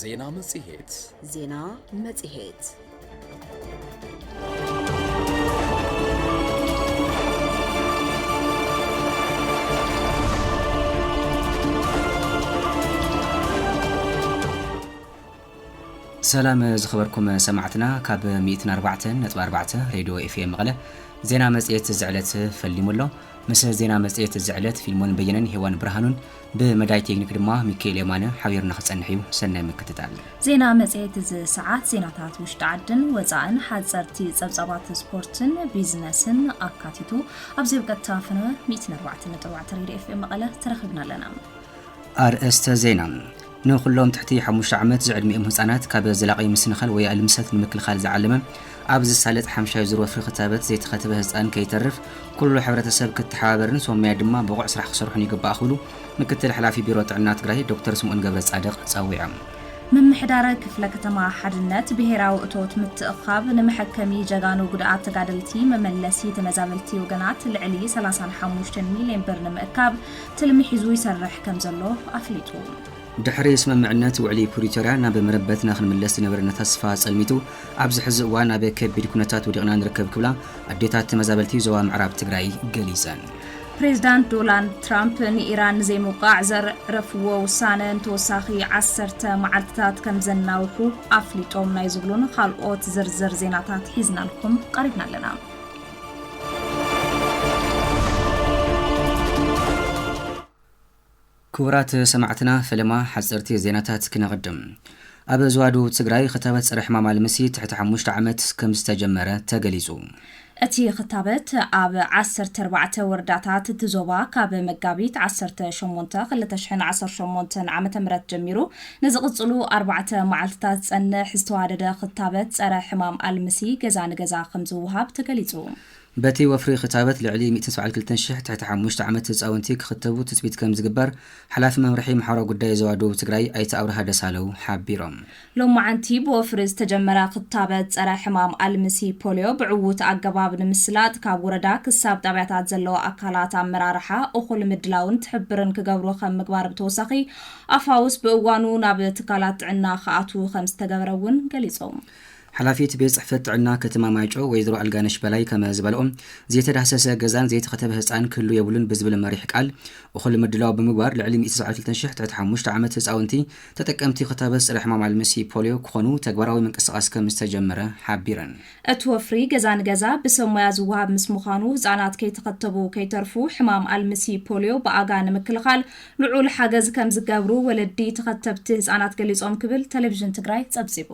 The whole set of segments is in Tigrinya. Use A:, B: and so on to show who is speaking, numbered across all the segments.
A: ዜና መጽሔት ዜና
B: መጽሔት
C: ሰላም ዝኸበርኩም ሰማዕትና ካብ 104.4 ሬድዮ ኤፍኤም መቐለ ዜና መጽሔት እዚ ዕለት ፈሊሙ ኣሎ ምስ ዜና መጽሔት እዚ ዕለት ፊልሞን በየነን ሄዋን ብርሃኑን ብመዳይ ቴክኒክ ድማ ሚኪኤል የማነ ሓቢሩና ክጸንሕ እዩ። ሰናይ ምክትታል። ዜና መጽሔት
D: እዚ ሰዓት ዜናታት ውሽጢ ዓድን ወጻእን፣ ሓጸርቲ ጸብጻባት ስፖርትን ቢዝነስን ኣካቲቱ ኣብዚ ኣብ ቀጥታ ፈነወ 104.4 ሬድዮ ኤፍኤም መቐለ ተረኺብና ኣለና። ኣርእስተ
C: ዜና ንኹሎም ትሕቲ ሓሙሽተ ዓመት ዝዕድሚኦም ህጻናት ካብ ዘላቒ ምስንኻል ወይ ኣልምሰት ንምክልኻል ዝዓለመ ኣብ ዝሳለጥ ሓምሻይ ዙር ወፍሪ ክታበት ዘይተኸተበ ህጻን ከይተርፍ ኩሉ ሕብረተሰብ ክተሓባበርን ሶመያ ድማ ብቑዕ ስራሕ ክሰርሑን ይግባእ ክብሉ ምክትል ሓላፊ ቢሮ ጥዕና ትግራይ ዶክተር ስምኦን ገብረጻድቕ ጸዊዖም። ምምሕዳር
D: ክፍለ ከተማ ሓድነት ብሄራዊ እቶት ምትእኽኻብ ንመሐከሚ ጀጋኑ ጉድኣት ተጋደልቲ መመለሲ ተመዛበልቲ ወገናት ልዕሊ ሰላሳን ሓሙሽተን ሚሊየን ብር ንምእካብ ትልሚ ሒዙ ይሰርሕ ከምዘሎ ኣፍሊጡ። ድሕሪ
C: ስምምዕነት ውዕሊ ፕሪቶርያ ናብ መረበትና ክንምለስ ዝነበረና ተስፋ ፀልሚቱ ኣብዚ ሕዚ እዋን ኣብ ከቢድ ኩነታት ወዲቕና ንርከብ ክብላ ኣዴታት ተመዛበልቲ ዞባ ምዕራብ ትግራይ ገሊፀን። ፕሬዝዳንት
D: ዶላንድ ትራምፕ ንኢራን ንዘይምውቃዕ ዘዕረፍዎ ውሳነ ንተወሳኺ ዓሰርተ መዓልትታት ከም ዘናውሑ ኣፍሊጦም ናይ ዝብሉን ኻልኦት ዝርዝር ዜናታት ሒዝናልኩም ቐሪብና ኣለና።
C: ክቡራት ሰማዕትና ፈለማ ሓፀርቲ ዜናታት ክነቕድም ኣብ ዝዋዱ ትግራይ ክታበት ፀረ ሕማም ኣልምሲ ትሕቲ ሓሙሽተ ዓመት ከም ዝተጀመረ ተገሊፁ እቲ
D: ክታበት ኣብ ዓሰርተ ኣርባዕተ ወረዳታት እቲ ዞባ ካብ መጋቢት ዓሰርተ ሸሞንተ ክልተ ሽሕን ዓሰርተ ሸሞንተን ዓመተ ምህረት ጀሚሩ ንዝቕፅሉ ኣርባዕተ መዓልቲታት ዝፀንሕ ዝተዋደደ ክታበት ፀረ ሕማም ኣልምሲ ገዛ ንገዛ ከምዝወሃብ ተገሊፁ። በቲ ወፍሪ
C: ክታበት ልዕሊ ሚእትን ሰብዓን ክልተን ሺሕ ትሕቲ ሓሙሽተ ዓመት ህፃውንቲ ክኽተቡ ትፅቢት ከምዝግበር ሓላፊ መምርሒ ማሕበራዊ ጉዳይ ዞባ ደቡብ ትግራይ ኣይተ ኣብርሃ ደሳለው ሓቢሮም። ሎማዕንቲ
D: ብወፍሪ ዝተጀመረ ክታበት ፀረ ሕማም ኣልምሲ ፖልዮ ብዕዉት ኣገባብ ንምስላጥ ካብ ወረዳ ክሳብ ጣብያታት ዘለዉ ኣካላት ኣመራርሓ እኹል ምድላውን ትሕብርን ክገብሩ ከም ምግባር ብተወሳኺ ኣፋውስ ብእዋኑ ናብ ትካላት ጥዕና ክኣትዉ ከምዝተገበረ እውን ገሊፆም። ሓላፊት ቤት
C: ፅሕፈት ጥዕና ከተማ ማይጨው ወይዘሮ ኣልጋነሽ በላይ ከመ ዝበልኦ ዘይተዳህሰሰ ገዛን ዘይተኸተበ ህፃን ክህሉ የብሉን ብዝብል መሪሕ ቃል እኹል ምድላው ብምግባር ልዕሊ ሚእቲ ሰብዓን ክልተን ሽሕ ትሕቲ ሓሙሽተ ዓመት ህፃውንቲ ተጠቀምቲ ክታበት ፀረ ሕማም ኣልምሲ ፖሊዮ ክኾኑ ተግባራዊ ምንቅስቓስ ከምዝተጀመረ ሓቢረን። እቲ ወፍሪ ገዛ
D: ንገዛ ብሰብ ሞያ ዝወሃብ ምስ ምዃኑ ህፃናት ከይተኸተቡ ከይተርፉ ሕማም ኣልምሲ ፖሊዮ ብኣጋ ንምክልኻል ልዑል ሓገዝ ከምዝገብሩ ወለዲ ተኸተብቲ ህፃናት ገሊፆም ክብል ቴሌቪዥን ትግራይ ፀብፂቡ።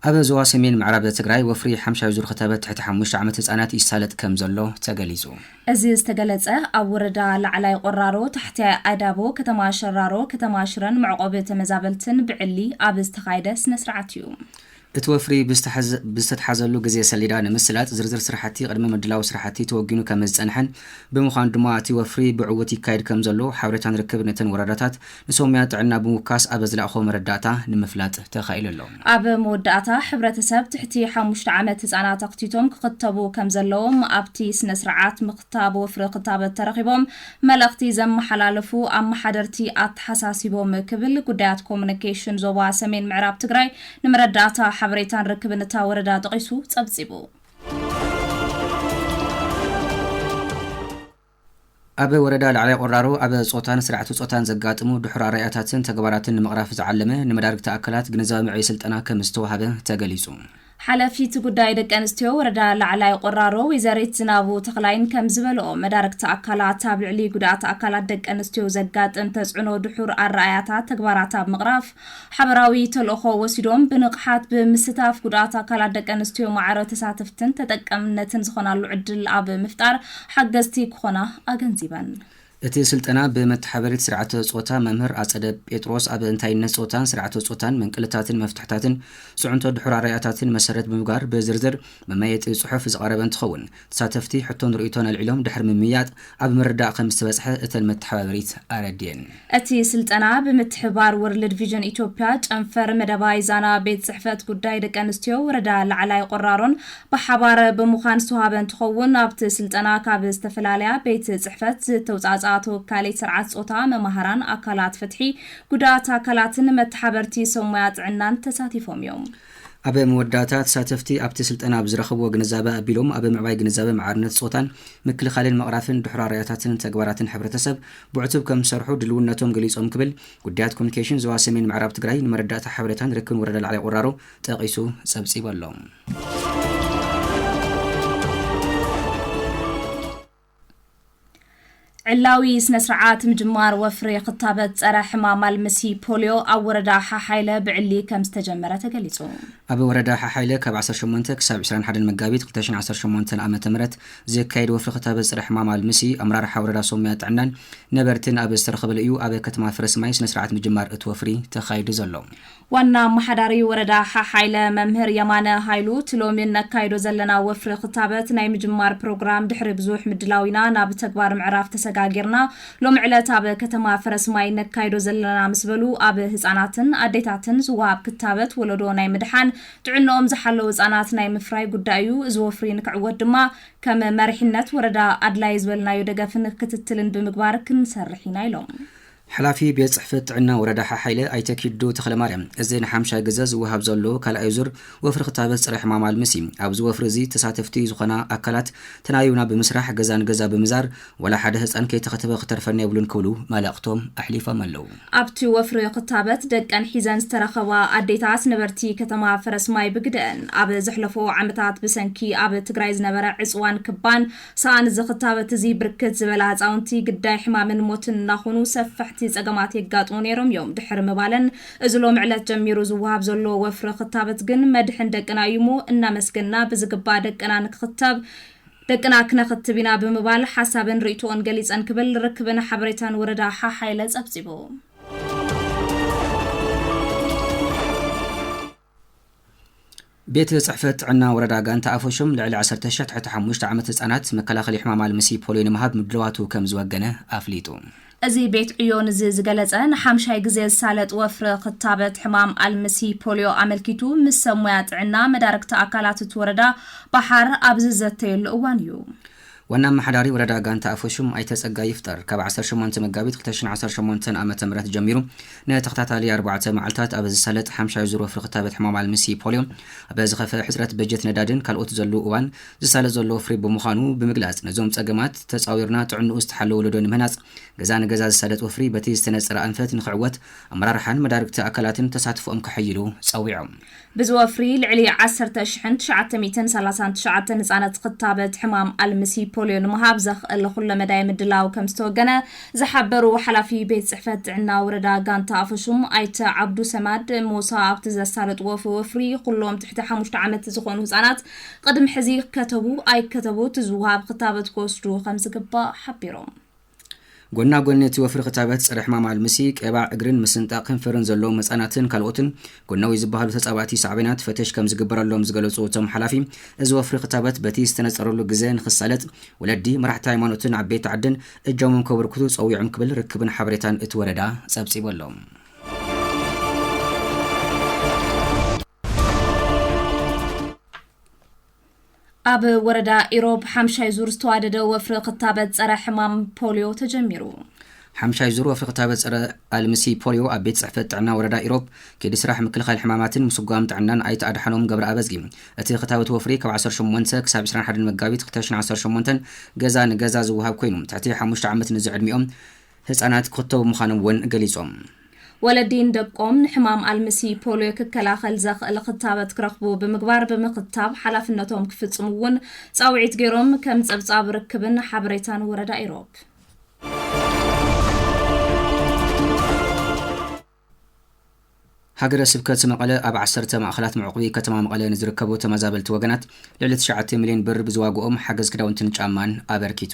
C: ኣብ ዞባ ሰሜን ምዕራብ ትግራይ ወፍሪ ሓምሻይ ዙር ክታበት ትሕቲ ሓሙሽተ ዓመት ህፃናት ይሳለጥ ከምዘሎ ተገሊፁ። እዚ ዝተገለፀ
D: ኣብ ወረዳ ላዕላይ ቆራሮ፣ ታሕታይ ኣዳቦ፣ ከተማ ሸራሮ፣ ከተማ ሽረን መዕቖቢ ተመዛበልትን ብዕሊ ኣብ ዝተኻየደ ስነ ስርዓት እዩ። እቲ ወፍሪ
C: ብዝተትሓዘሉ ግዘ ሰሌዳ ንምስላጥ ዝርዝር ስራሕቲ ቅድመ ምድላው ስራሕቲ ተወጊኑ ከምዝፀንሐን ብምዃኑ ድማ እቲ ወፍሪ ብዕውት ይካየድ ከምዘሎ ሓበሬታን ርክብን እተን ወረዳታት ንሶምያ ጥዕና ብምውካስ ኣበ ዝላእኾ መረዳእታ ንምፍላጥ ተኻኢሉ ኣሎ። ኣብ መወዳእታ፣ ሕብረተሰብ
D: ትሕቲ ሓሙሽተ ዓመት ህጻናት ኣኽቲቶም ክኽተቡ ከምዘለዎም ኣብቲ ስነ-ስርዓት ምኽታብ ወፍሪ ክታበት ተረኺቦም መልእኽቲ ዘመሓላለፉ ኣመሓደርቲ ኣተሓሳሲቦም ክብል ጉዳያት ኮሙኒኬሽን ዞባ ሰሜን ምዕራብ ትግራይ ንመረዳእታ ሓበሬታን ርክብን እታ ወረዳ ጠቒሱ ጸብጺቡ።
C: ኣብ ወረዳ ላዕላይ ቆራሮ ኣብ ፆታን ስራዕቲ ፆታን ዘጋጥሙ ድሑር ኣረኣእያታትን ተግባራትን ንምቕራፍ ዝዓለመ ንመዳርግቲ ኣካላት ግንዛበ መዕበዪ ስልጠና ከምዝተውሃበ ተገሊፁ። ሓላፊት ጉዳይ ደቂ ኣንስትዮ ወረዳ ላዕላይ ቆራሮ ወይዘሪት ዝናቡ ተኽላይን ከምዝበልኦ፣ መዳርግቲ ኣካላት ኣብ ልዕሊ ጉድኣት ኣካላት ደቂ ኣንስትዮ ዘጋጥም ተፅዕኖ ድሑር ኣረኣእያታት ተግባራት ኣብ ምቕራፍ ሓበራዊ ተልእኾ ወሲዶም ብንቕሓት ብምስታፍ ጉድኣት ኣካላት ደቂ ኣንስትዮ ማዕረ ተሳተፍትን ተጠቀምነትን ዝኾናሉ ዕድል ኣብ ምፍጣር ሓገዝቲ ክኾና ኣገንዚበን። እቲ ስልጠና ብመተሓበሪት ስርዓተ ፆታ መምህር ኣፀደ ጴጥሮስ ኣብ እንታይነት ፆታን ስርዓተ ፆታን መንቅልታትን መፍትሕታትን ፅዕንቶ ድሑር ኣረኣእያታትን መሰረት ብምግባር ብዝርዝር መመየጢ ፅሑፍ ዝቐረበ እንትኸውን ተሳተፍቲ ሕቶን ርእይቶን ኣልዒሎም ድሕሪ ምምይያጥ ኣብ ምርዳእ ከምዝተበፅሐ እተን መተሓባበሪት ኣረዲኤን። እቲ ስልጠና
D: ብምትሕብባር ወርልድ ቪዥን ኢትዮጵያ ጨንፈር መደባይ ዛና ቤት ፅሕፈት ጉዳይ ደቂ ኣንስትዮ ወረዳ ላዕላይ ቆራሮን ብሓባር ብምዃን ዝተውሃበ እንትኸውን ኣብቲ ስልጠና ካብ ዝተፈላለያ ቤት ፅሕፈት ዝተውፃእፅኣ ተወካሊት ስርዓት ፆታ፣ መማህራን፣ ኣካላት ፍትሒ፣ ጉዳኣት ኣካላትን መተሓበርቲ ሰብ ሞያ ጥዕናን ተሳቲፎም እዮም። ኣብ መወዳእታ፣
C: ተሳተፍቲ ኣብቲ ስልጠና ብዝረኸብዎ ግንዛበ ኣቢሎም ኣብ ምዕባይ ግንዛበ ማዕርነት ፆታን ምክልኻልን ምቕራፍን ድሑር ኣረኣእያታትን ተግባራትን ሕብረተሰብ ብዕቱብ ከምዝሰርሑ ድልውነቶም ገሊፆም ክብል ጉዳያት ኮሚኒኬሽን ዞባ ሰሜን ምዕራብ ትግራይ ንመረዳእታ ሓበሬታን ርክብን ወረዳ ላዕላይ ቁራሮ ጠቒሱ ፀብፂቡ ኣሎ።
D: ዕላዊ ስነ ስርዓት ምጅማር ወፍሪ ክታበት ጸረ ሕማም ኣልምሲ ፖሊዮ ኣብ ወረዳ ሓሓይለ ብዕሊ ከም ዝተጀመረ ተገሊጹ። ኣብ ወረዳ
C: ሓሓይለ ካብ 18 ክሳብ 21 መጋቢት 2018 ዓ ም ዝካየድ ወፍሪ ክታበት ጸረ ሕማም ኣልምሲ ኣመራርሓ ወረዳ ሶምያ ጥዕናን ነበርትን ኣብ ዝተረኸበሉ እዩ ኣብ ከተማ ፍረስማይ ስነ ስርዓት ምጅማር እቲ ወፍሪ ተኻይዱ ዘሎ። ዋና ኣመሓዳሪ
D: ወረዳ ሓሓይለ መምህር የማነ ሃይሉ፣ እቲ ሎሚ እነካይዶ ዘለና ወፍሪ ክታበት ናይ ምጅማር ፕሮግራም ድሕሪ ብዙሕ ምድላው ኢና ናብ ተግባር ምዕራፍ ተሰጋጊርና ሎሚ ዕለት ኣብ ከተማ ፈረስማይ እነካይዶ ዘለና ምስ በሉ፣ ኣብ ህፃናትን ኣዴታትን ዝወሃብ ክታበት ወለዶ ናይ ምድሓን ጥዕንኦም ዝሓለው ህፃናት ናይ ምፍራይ ጉዳይ እዩ። እዚ ወፍሪ ንክዕወት ድማ ከም መሪሕነት ወረዳ ኣድላይ ዝበልናዮ ደገፍን ክትትልን ብምግባር ክንሰርሕ ኢና ኢሎም። ሓላፊ ቤት
C: ፅሕፈት ጥዕና ወረዳ ሓሓይለ ኣይተ ኪዱ ተኽለማርያም፣ እዚ ንሓምሻይ ግዘ ዝወሃብ ዘሎ ካልኣይ ዙር ወፍሪ ክታበት ፀረ ሕማም ኣልምስ እዩ። ኣብዚ ወፍሪ እዚ ተሳተፍቲ ዝኾና ኣካላት ተናቢብና ብምስራሕ ገዛ ንገዛ ብምዛር ዋላ ሓደ ህፃን ከይተኸተበ ክተርፈና የብሉን ክብሉ መልእኽቶም ኣሕሊፎም ኣለው። ኣብቲ ወፍሪ
D: ክታበት ደቀን ሒዘን ዝተረኸባ ኣዴታት ነበርቲ ከተማ ፈረስማይ ብግደኣን፣ ኣብ ዘሕለፉ ዓመታት ብሰንኪ ኣብ ትግራይ ዝነበረ ዕፅዋን ክባን፣ ሳኣን እዚ ክታበት እዚ ብርክት ዝበላ ህፃውንቲ ግዳይ ሕማምን ሞትን እናኾኑ ሰፈሕቲ ፀገማት የጋጥሙ ነይሮም እዮም ድሕሪ ምባለን እዚ ሎሚ ዕለት ጀሚሩ ዝወሃብ ዘሎ ወፍሪ ክታበት ግን መድሕን ደቅና እዩ እሞ እናመስገንና ብዝግባእ ደቅና ንክኽተብ ደቅና ክነኽትብ ኢና ብምባል ሓሳብን ርእይትኦን ገሊፀን ክብል ርክብን ሓበሬታን ወረዳ ሓሓይለ ፀብፂቡ።
C: ቤት ፅሕፈት ጥዕና ወረዳ ጋንታ ኣፈሹም ልዕሊ ዓሰርተ ሽሕ ትሕቲ ሓሙሽተ ዓመት ህፃናት መከላኸሊ ሕማም ኣልምሲ ፖሊዮ ንምሃብ ምድልዋቱ ከምዝወገነ ኣፍሊጡ። እዚ ቤት
D: ዕዮ ንዚ ዝገለፀ ንሓምሻይ ግዜ ዝሳለጥ ወፍሪ ክታበት ሕማም ኣልምሲ ፖሊዮ ኣመልኪቱ ምስ ሰብ ሞያ ጥዕና መዳርግቲ ኣካላት እቲ ወረዳ ባሓር ኣብ ዝዘተየሉ እዋን እዩ። ዋና ኣመሓዳሪ ወረዳ ጋንታ ኣፈሹም ኣይተ ፀጋይ ይፍጠር ካብ ዓሰርተ ሸሞንተ መጋቢት ክልተ ሽሕን ዓሰርተ ሸሞንተን ዓ ም ጀሚሩ ንተኸታታሊ ኣርባዕተ መዓልታት ኣብ ዝሳለጥ ሓምሻይ ዙር ወፍሪ ክታበት ሕማም ኣልምሲ ፖልዮ ኣብ ዝኸፈ ሕፅረት በጀት ነዳድን ካልኦት ዘሉ እዋን ዝሳለጥ ዘሎ ወፍሪ ብምዃኑ ብምግላፅ ነዞም ፀገማት ተፃዊርና ጥዕንኡ ዝተሓለወ ወለዶ ንምህናፅ ገዛ ንገዛ ዝሳለጥ ወፍሪ በቲ ዝተነፀረ ኣንፈት ንክዕወት ኣመራርሓን መዳርግቲ ኣካላትን ተሳትፎኦም ከሐይሉ ፀዊዖም። ብዚ ወፍሪ ልዕሊ ዓሰርተ ሽሕን ትሽዓተ ሚእትን ሰላሳን ትሽዓተን ህፃነት ኽታበት ሕማም ኣልምሲ ፖልዮ ንምሃብ ዘኽእል ኹለመዳይ ምድላው ከምዝተወገነ ዝሓበሩ ሓላፊ ቤት ፅሕፈት ጥዕና ወረዳ ጋንታ ኣፈሹም ኣይተ ዓብዱ ሰማድ ሙሳ ኣብቲ ዘሳለጥዎ ወፍሪ ኹሎም ትሕቲ ሓሙሽተ ዓመት ዝኾኑ ህፃናት ቕድሚ ሕዚ ይከተቡ ኣይከተቡ እቲ ዝወሃብ ኽታበት ክወስዱ ኸምዝግባእ ሓቢሮም።
C: ጎና ጎኒ እቲ ወፍሪ ክታበት ፀረ ሕማም ኣልምሲ፣ ቄባ እግርን ምስንጣቕ ከንፈርን ዘለዎም ህፃናትን ካልኦትን ጎናዊ ዝበሃሉ ተፃባእቲ ሳዕቤናት ፈተሽ ከምዝግበረሎም ዝገለፁ እቶም ሓላፊ እዚ ወፍሪ ክታበት በቲ ዝተነፀረሉ ግዘ ንኽሳለጥ ወለዲ፣ መራሕቲ ሃይማኖትን ዓበይቲ ዓድን እጃሞም ከበርክቱ ፀዊዖም ክብል ርክብን ሓበሬታን እቲ ወረዳ ፀብፂቡ ኣሎ።
D: ኣብ ወረዳ ኢሮብ ሓምሻይ ዙር ዝተዋደደ ወፍሪ ክታበት ፀረ ሕማም ፖሊዮ ተጀሚሩ። ሓምሻይ ዙር
C: ወፍሪ ክታበት ፀረ ኣልምሲ ፖሊዮ ኣብ ቤት ፅሕፈት ጥዕና ወረዳ ኢሮብ ከይዲ ስራሕ ምክልኻል ሕማማትን ምስጓም ጥዕናን ኣይተ ኣድሓኖም ገብረ ኣበዝጊ እቲ ክታበት ወፍሪ ካብ 18 ክሳብ 21 መጋቢት 2018 ገዛ ንገዛ ዝወሃብ ኮይኑ ትሕቲ ሓሙሽተ ዓመት ንዝዕድሚኦም ህጻናት ክኽተቡ ምዃኖም እውን ገሊጾም። ወለዲ
D: ንደቆም ንሕማም ኣልምሲ ፖልዮ ክከላኸል ዘኽእል ኽታበት ክረኽቡ ብምግባር ብምኽታብ ሓላፍነቶም ክፍጽሙ እውን ጻውዒት ገይሮም ከም ጸብጻብ ርክብን ሓበሬታን ወረዳ ኢሮብ።
C: ሃገረ ስብከት መቐለ ኣብ ዓሰርተ ማእኸላት መዕቑቢ ከተማ መቐለ ንዝርከቡ ተመዛበልቲ ወገናት ልዕሊ ትሽዓተ ሚሊዮን ብር ብዝዋግኦም ሓገዝ ክዳውንትን ጫማን ኣበርኪቱ።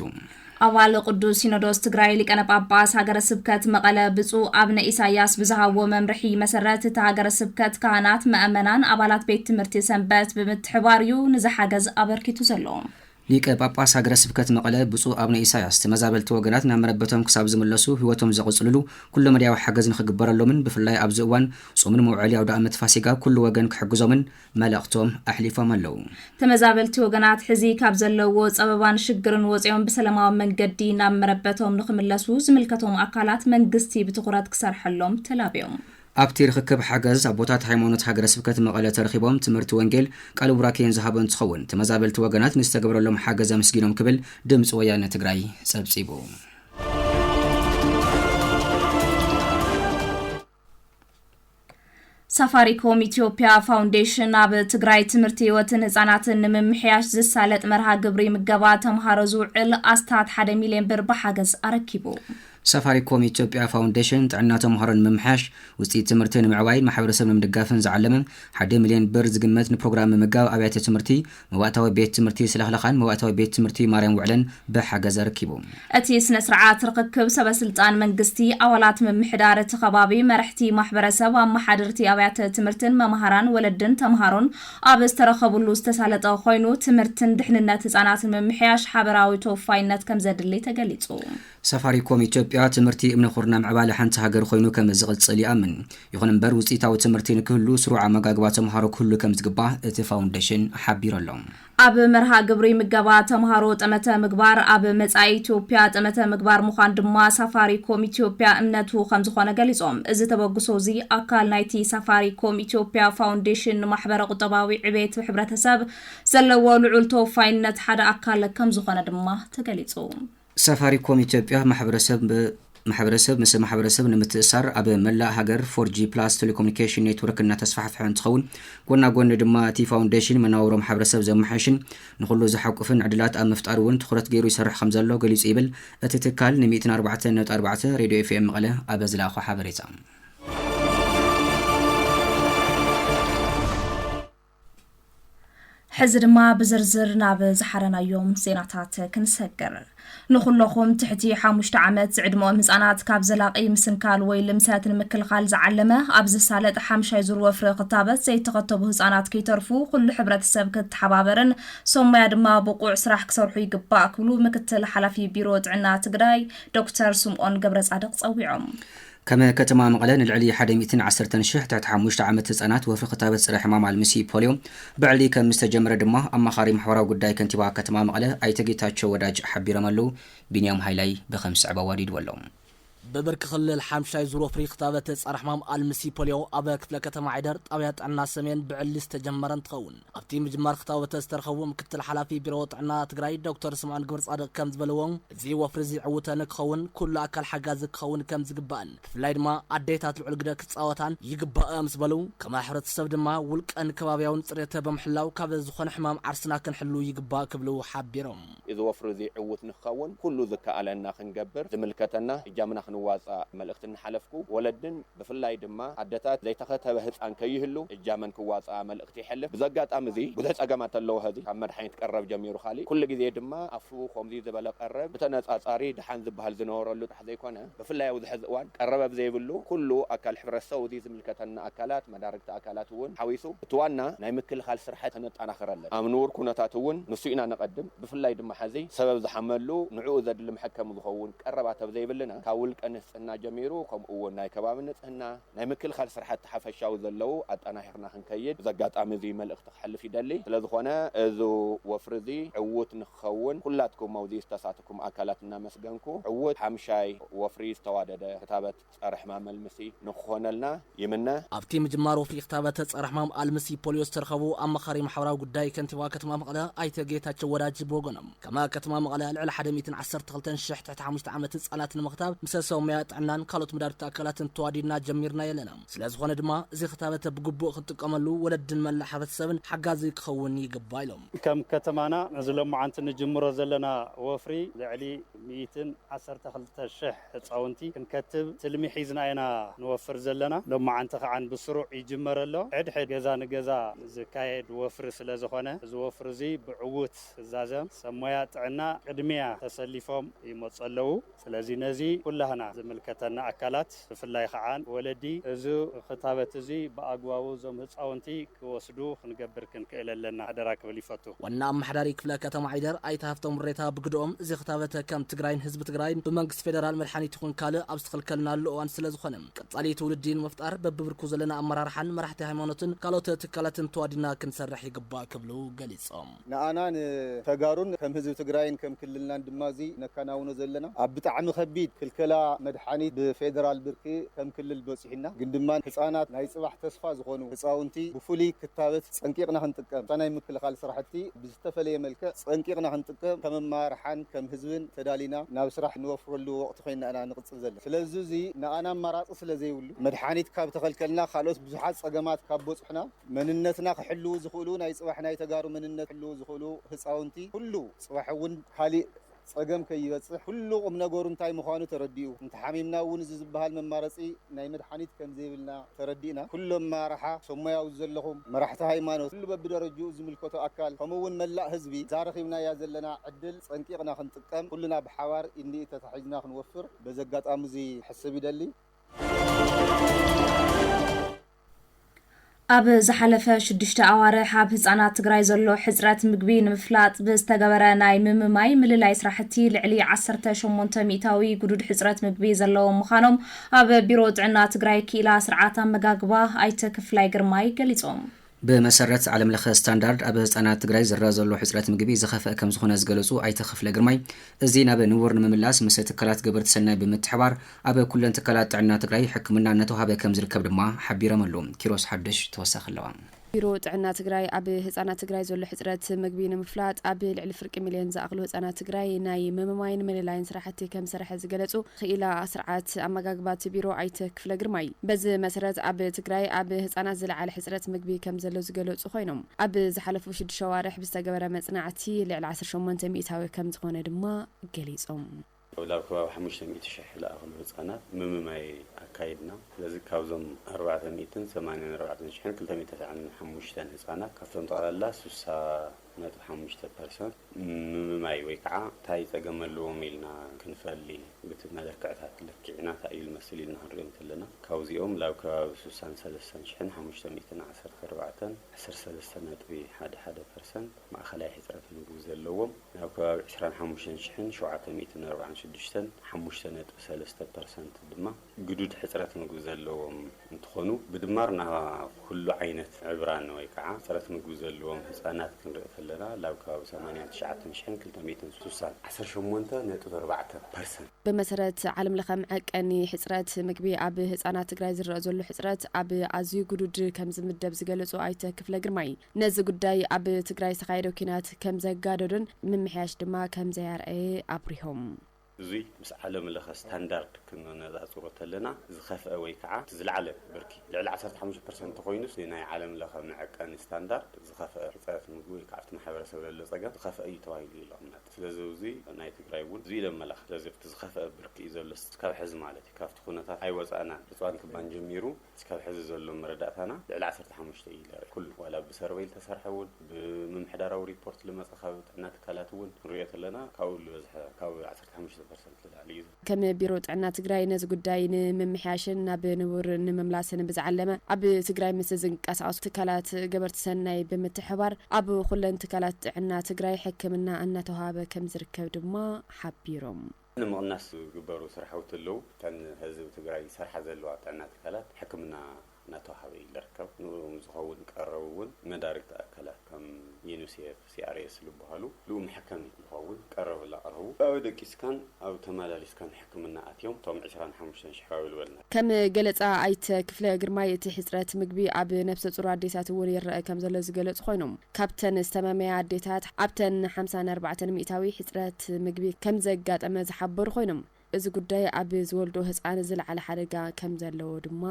C: ኣባል ቅዱስ
D: ሲኖዶስ ትግራይ ሊቀነ ጳጳስ ሃገረ ስብከት መቐለ ብፁዕ ኣብነ ኢሳያስ ብዝሃብዎ መምርሒ መሰረት እቲ ሃገረ ስብከት ካህናት፣ መእመናን፣ ኣባላት ቤት ትምህርቲ ሰንበት ብምትሕባር እዩ ንዚ ሓገዝ ኣበርኪቱ ዘሎ። ሊቀ ጳጳስ ሃገረ ስብከት መቐለ ብፁዕ ኣቡነ ኢሳያስ ተመዛበልቲ ወገናት ናብ መረበቶም ክሳብ ዝምለሱ ሕይወቶም ዘቕጽልሉ ኩለመዳያዊ ሓገዝ ንኽግበረሎምን ብፍላይ ኣብዚ እዋን ጾምን መውዐሊ ኣውደኣመት ፋሲጋ ኩሉ ወገን ክሕግዞምን መልእኽቶም ኣሕሊፎም ኣለዉ። ተመዛበልቲ ወገናት ሕዚ ካብ ዘለዉዎ ጸበባን ሽግርን ወጺኦም ብሰለማዊ መንገዲ ናብ መረበቶም ንኽምለሱ ዝምልከቶም ኣካላት መንግስቲ ብትኹረት ክሰርሐሎም ተላብዮም። ኣብቲ ርኽክብ ሓገዝ ኣቦታት ሃይማኖት ሃገረ ስብከት መቐለ ተረኺቦም ትምህርቲ ወንጌል ቃለ ቡራኬን ዝሃቡ እንትኸውን ተመዛበልቲ ወገናት ንዝተገበረሎም ሓገዝ ኣምስጊኖም ክብል ድምፂ ወያነ ትግራይ ፀብፂቡ። ሳፋሪኮም ኢትዮጵያ ፋውንዴሽን ኣብ ትግራይ ትምህርቲ ህይወትን ህፃናትን ንምምሕያሽ ዝሳለጥ መርሃ ግብሪ ምገባ ተምሃሮ ዝውዕል ኣስታት ሓደ ሚሊዮን ብር ብሓገዝ ኣረኪቡ ሳፋሪኮም ኢትዮጵያ ፋውንዴሽን ጥዕና ተምሃሮ ንምምሕያሽ፣ ውፅኢት ትምህርቲ ንምዕባይን ማሕበረሰብ ንምድጋፍን ዝዓለመ ሓደ ሚሊየን ብር ዝግመት ንፕሮግራም ምምጋብ ኣብያተ ትምህርቲ መባእታዊ ቤት ትምህርቲ ስለኽለኻን መባእታዊ ቤት ትምህርቲ ማርያም ውዕለን ብሓገዝ ኣረኪቡ። እቲ ስነ ስርዓት ርኽክብ ሰበ ስልጣን መንግስቲ፣ ኣባላት ምምሕዳር እቲ ከባቢ፣ መረሕቲ ማሕበረሰብ፣ ኣመሓደርቲ ኣብያተ ትምህርትን መማህራን፣ ወለድን ተምሃሮን ኣብ ዝተረኸብሉ ዝተሳለጠ ኮይኑ ትምህርትን ድሕንነት ህፃናትን ምምሕያሽ ሓበራዊ ተወፋይነት ከምዘድሊ ተገሊፁ። ሳፋሪኮም ኢትዮጵያ፣ ትምህርቲ እምነ ኹርና ምዕባለ ሓንቲ ሃገር ኾይኑ ከም ዝቕፅል ይኣምን። ይኹን እምበር ውፅኢታዊ ትምህርቲ ንክህሉ ስሩዕ ኣመጋግባ ተምሃሮ ክህሉ ከም ዝግባእ እቲ ፋውንዴሽን ሓቢሩ ኣሎ። ኣብ መርሃ ግብሪ ምገባ ተምሃሮ ጠመተ ምግባር ኣብ መፃኢ ኢትዮጵያ ጠመተ ምግባር ምዃን ድማ ሳፋሪኮም ኢትዮጵያ እምነቱ ከም ዝኾነ ገሊፆም። እዚ ተበግሶ እዚ ኣካል ናይቲ ሳፋሪኮም ኢትዮጵያ ፋውንዴሽን ንማሕበረ ቁጠባዊ ዕቤት ሕብረተሰብ ዘለዎ ልዑል ተወፋይነት ሓደ ኣካል ከም ዝኾነ ድማ ተገሊፁ። ሳፋሪኮም ኢትዮጵያ ማሕበረሰብ ማሕበረሰብ ምስ ማሕበረሰብ ንምትእሳር ኣብ መላእ ሃገር ፎርጂ ፕላስ ቴሌኮሙኒኬሽን ኔትወርክ እናተስፋሕፍሐ እንትኸውን ጎና ጎኒ ድማ እቲ ፋውንዴሽን መናውሮ ማሕበረሰብ ዘመሓይሽን ንኹሉ ዘሓቁፍን ዕድላት ኣብ ምፍጣር እውን ትኹረት ገይሩ ይሰርሕ ከምዘሎ ገሊፁ ይብል እቲ ትካል ንሚእትን ኣርባዕተን ነጥቢ ኣርባዕተ ሬድዮ ኤፍኤም መቐለ ኣብ ዝለኣኾ ሓበሬታ ሕዚ ድማ ብዝርዝር ናብ ዝሓረናዮም ዜናታት ክንሰግር ንኹለኹም ትሕቲ ሓሙሽተ ዓመት ዝዕድመኦም ህፃናት ካብ ዘላቒ ምስንካል ወይ ልምሰት ንምክልኻል ዝዓለመ ኣብ ዝሳለጥ ሓምሻይ ዙር ወፍሪ ክታበት ዘይተኸተቡ ህፃናት ከይተርፉ ኩሉ ሕብረተሰብ ክተሓባበርን ሰሞያ ድማ ብቑዕ ስራሕ ክሰርሑ ይግባእ ክብሉ ምክትል ሓላፊ ቢሮ ጥዕና ትግራይ ዶክተር ስምኦን ገብረ ፃድቕ ፀዊዖም። ከም ከተማ መቐለ ንልዕሊ ሓደ ሚእትን ዓሰርተን ሽሕ ትሕቲ ሓሙሽተ ዓመት ህፃናት ወፍሪ ክታበት ፀረ ሕማም ኣልምሲ፣ ፖልዮ፣ ብዕሊ ከምዝተጀመረ ድማ ኣማኻሪ ማሕበራዊ ጉዳይ ከንቲባ ከተማ መቐለ ኣይተ ጌታቸው ወዳጅ ሓቢሮም ኣለው። ቢንያም ሃይላይ ብከምስዕብ ኣዋዲድዎ ኣሎ። ብብርኪ ክልል ሓምሻይ ዙር ወፍሪ ክታበት ፀረ ሕማም ኣልምሲ፣ ፖልዮ፣ ኣብ ክፍለ ከተማ ዓይደር ጣብያ ጥዕና ሰሜን ብዕሊ ዝተጀመረ እንትኸውን፣ ኣብቲ ምጅማር ፍታወተ ዝተረኸቡ ምክትል ሓላፊ ቢሮ ጥዕና ትግራይ ዶክተር ስምዖን ግብረፃድቕ ከምዝበልዎ፣ እዚ ወፍሪ እዚ ዕውተ ንክኸውን ኩሉ ኣካል ሓጋዚ ክኸውን ከምዝግባእን ብፍላይ ድማ ኣዴታት ልዑል ግደ ክፃወታን ይግባእ ምስ በሉ፣ ከማ ሕብረተሰብ ድማ ውልቀን ከባብያውን ፅሬተ ብምሕላው ካብ ዝኾነ ሕማም ዓርስና ክንሕሉ ይግባእ ክብሉ ሓቢሮም። እዚ ወፍሪ እዚ
E: ዕዉት ንክኸውን ኩሉ ዝከኣለና ክንገብር ዝምልከተና እጃምና ክንዋፃእ መልእኽቲ እናሓለፍኩ ወለድን ብፍላይ ድማ ኣደታት ዘይተኸተበ ህፃን ከይህሉ እጃመን ክዋፅኣ መልእኽቲ የሕልፍ። ብዚ ኣጋጣሚ እዚ ብዙሕ ፀገማት ኣለዎ ሀዚ ካብ መድሓኒት ቀረብ ጀሚሩ ካሊእ ኩሉ ግዜ ድማ ኣፍትዉ ከምዙይ ዝበለ ቀረብ ብተነፃፃሪ ደሓን ዝበሃል ዝነበረሉ ዘይኮነ ብፍላይ ኣብዚ ሐዚ እዋን ቀረበብ ዘይብሉ ኩሉ ኣካል ሕብረተሰው እዚ ዝምልከተና ኣካላት መዳርግቲ ኣካላት እውን ሓዊሱ እቲ ዋና ናይ ምክልኻል ስርሐት ከነጣናኽር ኣለና ኣብ ንቡር ኩነታት እውን ንሱ ኢና ነቐድም ብፍላይ ድማ ሐዚ ሰበብ ዝሓመሉ ንዕኡ ዘድሊ መሐከሚ ዝኸውን ቀረባት ኣብ ዘይብልና ካብ ውልቀ ንህፅና ጀሚሩ ከምኡ እውን ናይ ከባቢ ንፅህና ናይ ምክልኻል ስራሕቲ ሓፈሻዊ ዘለዉ ኣጠናኺርና ክንከይድ በዚ ኣጋጣሚ እዚ መልእኽቲ ክሕልፍ ይደሊ። ስለዝኾነ እዚ ወፍሪ እዚ ዕዉት ንክኸውን ኩላትኩም ኣብዙይ ዝተሳተኩም ኣካላት እናመስገንኩ ዕዉት ሓምሻይ ወፍሪ ዝተዋደደ ክታበት ፀረሕማም ኣልምሲ ንክኾነልና ይምነ። ኣብቲ ምጅማር ወፍሪ ክታበት ፀረሕማም ኣልምሲ ፖሊዮ ዝተረኸቡ ኣማኻሪ ማሕበራዊ ጉዳይ ከንቲባ ከተማ መቐለ ኣይተ ጌታቸው ወዳጅ ብወገኖም፣ ከም ከተማ መቐለ ልዕሊ ሓደ ሚእትን ዓሰርተ ክልተን ሽሕ ትሕቲ ሓሙሽተ ዓመት ህጻናት ንምኽታብ ምሰ ሰብ ሞያ
F: ጥዕናን ካልኦት መዳርግቲ ኣካላትን ተዋዲድና ጀሚርናዮ ኣለና። ስለዝኾነ ድማ እዚ ክታበት ብግቡእ ክንጥቀመሉ ወለድን መላእ ሕብረተሰብን ሓጋዚ ክኸውን ይግባእ ኢሎም። ከም ከተማና
G: ነዚ ሎማዓንቲ ንጅምሮ ዘለና ወፍሪ ልዕሊ ሚኢትን ዓሰርተ ክልተ ሽሕ ህጻውንቲ ክንከትብ ትልሚ ሒዝና ኢና ንወፍር ዘለና። ሎማዓንቲ ከዓን ብስሩዕ ይጅመር ኣሎ። ሕድሕድ ገዛ ንገዛ ዝካየድ ወፍሪ ስለዝኾነ እዚ ወፍሪ እዚ ብዕዉት ፍዛዘ ሰብ ሞያ ጥዕና ቅድሚያ ተሰሊፎም ይመፁ ኣለዉ። ስለዚ ነዚ ኩላህና ዝምልከተና ኣካላት ብፍላይ ኸዓ ወለዲ እዚ ኽታበት እዚ ብኣግባቡ እዞም ህፃውንቲ ክወስዱ ክንገብር ክንክእል ኣለና ሓደራ ክብል ይፈቱ። ዋና ኣማሓዳሪ ክፍለ
F: ከተማ ዓይደር ኣይተ ሃፍቶም ምሬታ ብግደኦም፣ እዚ ኽታበተ ከም ትግራይን ህዝቢ ትግራይን ብመንግስቲ ፌደራል መድሓኒት ይኹን ካልእ ኣብ ዝተኸልከልናሉ እዋን ስለዝኾነ ቀፃሊ ትውልዲ ንምፍጣር በቢብርኩ ዘለና ኣመራርሓን መራሕቲ ሃይማኖትን ካልኦት ትካላትን ተዋዲድና ክንሰርሕ ይግባእ ክብሉ ገሊፆም። ንኣና
H: ንተጋሩን ከም ህዝቢ ትግራይን ከም ክልልናን ድማ እዚ ነካናውኖ ዘለና ኣብ ብጣዕሚ ከቢድ ክልከላ መድሓኒት ብፌደራል ብርኪ ከም ክልል በፂሑና ግን ድማ ህፃናት ናይ ፅባሕ ተስፋ ዝኾኑ ህፃውንቲ ብፍሉይ ክታበት ፀንቂቕና ክንጥቀም እታ ናይ ምክልኻል ስራሕቲ ብዝተፈለየ መልክዕ ፀንቂቕና ክንጥቀም ከም ኣመራርሓን ከም ህዝብን ተዳሊና ናብ ስራሕ ንወፍረሉ ወቕቲ ኮይንና ኢና ንቕፅል ዘለና ስለዙይ እዚ ንኣና ኣማራፂ ስለዘይብሉ መድሓኒት ካብ ተኸልከልና ካልኦት ብዙሓት ፀገማት ካብ በፁሑና መንነትና ክሕልዉ ዝኽእሉ ናይ ፅባሕ ናይ ተጋሩ መንነት ክሕልዉ ዝኽእሉ ህፃውንቲ ኩሉ ፅባሕ እውን ካሊእ ፀገም ከይበፅሕ ኩሉ ቁምነገሩ እንታይ ምዃኑ ተረዲኡ እንተሓሚምና እውን እዚ ዝበሃል መማረፂ ናይ መድሓኒት ከምዘይብልና ተረዲእና ኩሉ ኣመራርሓ ሰሞያዊ ዘለኹም መራሕቲ ሃይማኖት ኩሉ በቢደረጅኡ ዝምልከቶ ኣካል ከምኡ እውን መላእ ህዝቢ እዛ ረኺብናያ ዘለና ዕድል ፀንቂቕና ክንጥቀም ኩልና ብሓባር ኢድንኢድ ተታሒዝና ክንወፍር በዚ ኣጋጣሚ እዚ ክሕስብ ይደሊ።
D: ኣብ ዝሓለፈ ሽዱሽተ ኣዋርሕ ኣብ ህፃናት ትግራይ ዘሎ ሕፅረት ምግቢ ንምፍላጥ ብዝተገበረ ናይ ምምማይ ምልላይ ስራሕቲ ልዕሊ ዓሰርተ ሸሞንተ ሚእታዊ ግዱድ ሕፅረት ምግቢ ዘለዎም ምዃኖም ኣብ ቢሮ ጥዕና ትግራይ ክኢላ ስርዓት ኣመጋግባ ኣይተ ክፍላይ ግርማይ ገሊፆም። ብመሰረት
C: ዓለም ለኸ ስታንዳርድ ኣብ ህፃናት ትግራይ ዝረኣ ዘሎ ሕፅረት ምግቢ ዝኸፍአ ከምዝኾነ ዝገለፁ ኣይተ ክፍለ ግርማይ እዚ ናብ ንቡር ንምምላስ ምስ ትካላት ገበርቲ ሰናይ ብምትሕባር ኣብ ኩለን ትካላት ጥዕና ትግራይ ሕክምና እናተውሃበ ከምዝርከብ ድማ ሓቢሮም ኣለው። ኪሮስ ሓዱሽ ተወሳኺ ኣለዎ። ቢሮ ጥዕና
B: ትግራይ ኣብ ህፃናት ትግራይ ዘሎ ሕፅረት ምግቢ ንምፍላጥ ኣብ ልዕሊ ፍርቂ ሚሊየን ዝኣኽሉ ህፃናት ትግራይ ናይ ምምማይን ምልላይን ስራሕቲ ከምዝሰርሐ ዝገለፁ ኽኢላ ስርዓት ኣመጋግባ እቲ ቢሮ ኣይተ ክፍለ ግርማይ በዚ መሰረት ኣብ ትግራይ ኣብ ህፃናት ዝለዓለ ሕፅረት ምግቢ ከምዘሎ ዝገለፁ ኾይኖም ኣብ ዝሓለፉ ሽዱሽተ ኣዋርሕ ብዝተገበረ መፅናዕቲ ልዕሊ ዓሰርተ ሸሞንተ ሚኢታዊ ከምዝኾነ ድማ ገሊፆም። ናብ ከባቢ
I: ሓሙሽተ ሚእቲ ሽሕ ልኣኽሉ ህጻናት ምምማይ ኣካይድና። ስለዚ ካብዞም ኣርባዕተ ሚእትን ሰማንያን ኣርባዕተን ሽሕን ክልተ ሚእቲ ተስዓን ሓሙሽተን ህጻናት ካብቶም ጠቕላላ ስሳ ነጥቢ ሓሙሽተ ፐርሰንት ምምማይ ወይ ከኣ ታይ ጸገም ኣለዎም ኢልና ክንፈሊ ብቲ መለክዕታት ለኪዕና ታይ እዩ ልመስል ኢልና ክንሪኦ እንተለና ካብዚኦም ላብ ከባቢ ስሳን ሰለስተን ሽሕን ሓሙሽተ ሚእትን ዓሰርተ ኣርባዕተን ዓሰርተ ሰለስተ ነጥቢ ሓደ ሓደ ፐርሰንት ማእከላይ ሕጽረት ምግቢ ዘለዎም ናብ ከባቢ ዕስራን ሓሙሽተን ሽሕን ሸውዓተ ሚእትን ኣርባዓን ሽዱሽተን፣ ሓሙሽተ ነጥቢ ሰለስተ ፐርሰንት፣ ድማ ግዱድ ሕጽረት ምግቢ ዘለዎም እንትኾኑ፣ ብድማር ናብ ኩሉ ዓይነት ዕብራን ወይ ከዓ ሕጽረት ምግቢ ዘለዎም ህጻናት ክንርኢ ከለና ላብ ከባቢ ሰማንያን ትሽዓተን ሽሕን ክልተ ሚእትን ስሳን፣ ዓሰርተ ሸሞንተ ነጥቢ ኣርባዕተ ፐርሰንት። ብመሰረት
B: ዓለም ለኸ መዐቀኒ ሕጽረት ምግቢ ኣብ ህጻናት ትግራይ ዝረእ ዘሎ ሕጽረት ኣብ ኣዝዩ ግዱድ ከምዝምደብ ዝገለጹ ኣይተ ክፍለ ግርማይ፣ ነዚ ጉዳይ ኣብ ትግራይ ዝተኻየደ ኲናት ከምዘጋደዶን ምምሕያሽ ድማ ከምዘይኣርኣየ ኣብሪሆም። እዙይ
I: ምስ ዓለም ለኸ ስታንዳርድ ክነነፃፅሮ ተለና ዝኸፍኣ ወይ ከዓ እቲ ዝለዓለ ብርኪ ልዕሊ ዓሰርተ ሓሙሽተ ፐርሰንት እንተኾይኑስ እቲ ናይ ዓለም ለኸ መዐቀኒ ስታንዳርድ ዝኸፍኣ ሕፀረት ምግቢ ወይ ከዓ ኣብቲ ማሕበረሰብ ለሎ ፀገም ዝኸፍኣ እዩ ተባሂሉ እዩ ልቕመጥ። ስለዚ እዙይ ናይ ትግራይ እውን እዙይ እዩ ለመላኽት። ስለዚ ኣብቲ ዝኸፍኣ ብርኪ እዩ ዘሎስ እስካብ ሕዚ ማለት እዩ። ካብቲ ኩነታት ኣይወፃእናን። ዕፅዋን ክባን ጀሚሩ እስካብ ሕዚ ዘሎ መረዳእታና ልዕሊ ዓሰርተ ሓሙሽተ እዩ ኢለ ኩሉ ዋላ ብሰርቨይ ልተሰርሐ እውን ብምምሕዳራዊ ሪፖርት ልመፀ ካብ ጥዕና ትካላት እውን ክንሪኦ ተለና ካብኡ ልበዝሐ ካብ ዓሰርተ ሓሙሽተ ፐርሰንት ልላዕሊ እዩ። ከም
B: ቢሮ ጥዕና ትግራይ ነዚ ጉዳይ ንምምሕያሽን ናብ ንቡር ንመምላስን ብዝዓለመ ኣብ ትግራይ ምስ ዝንቀሳቐሱ ትካላት ገበርቲ ሰናይ ብምትሕብባር ኣብ ኹለን ትካላት ጥዕና ትግራይ ሕክምና እናተውሃበ ከምዝርከብ ድማ ሓቢሮም። ንምቕናስ
I: ዝግበሩ ስራሕውቲ ኣለው። እተን ህዝቢ ትግራይ ዝሰርሓ ዘለዋ ጥዕና ትካላት ሕክምና እናተውሃበ እዩ ዝርከብ። ንእኡም ዝኸውን ቀረብ እውን መዳርግቲ ኣካላት ከም ዩኒሴፍ፣ ሲኣርኤስ ዝበሃሉ ልኡ መሐከሚ ዝኸውን ቀረብ እላቐረቡ ብኣዊ ደቂስካን ኣብ ተመላሊስካን ሕክምና ኣትዮም እቶም ዕስራን ሓሙሽተን ሽሕ ራውይል ወልናት። ከም ገለፃ
B: ኣይተ ክፍለ ግርማይ፣ እቲ ሕፅረት ምግቢ ኣብ ነብሰፁር ኣዴታት እውን ይረኣ ከምዘሎ ዝገለፁ ኮይኖም፣ ካብተን ዝተመመያ ኣዴታት ኣብተን ሓምሳን ኣርባዕተን ሚኢታዊ ሕፅረት ምግቢ ከምዘጋጠመ ዝሓበሩ ኮይኖም፣ እዚ ጉዳይ ኣብ ዝወልድኦ ህፃን ዝለዓለ ሓደጋ ከምዘለዎ ድማ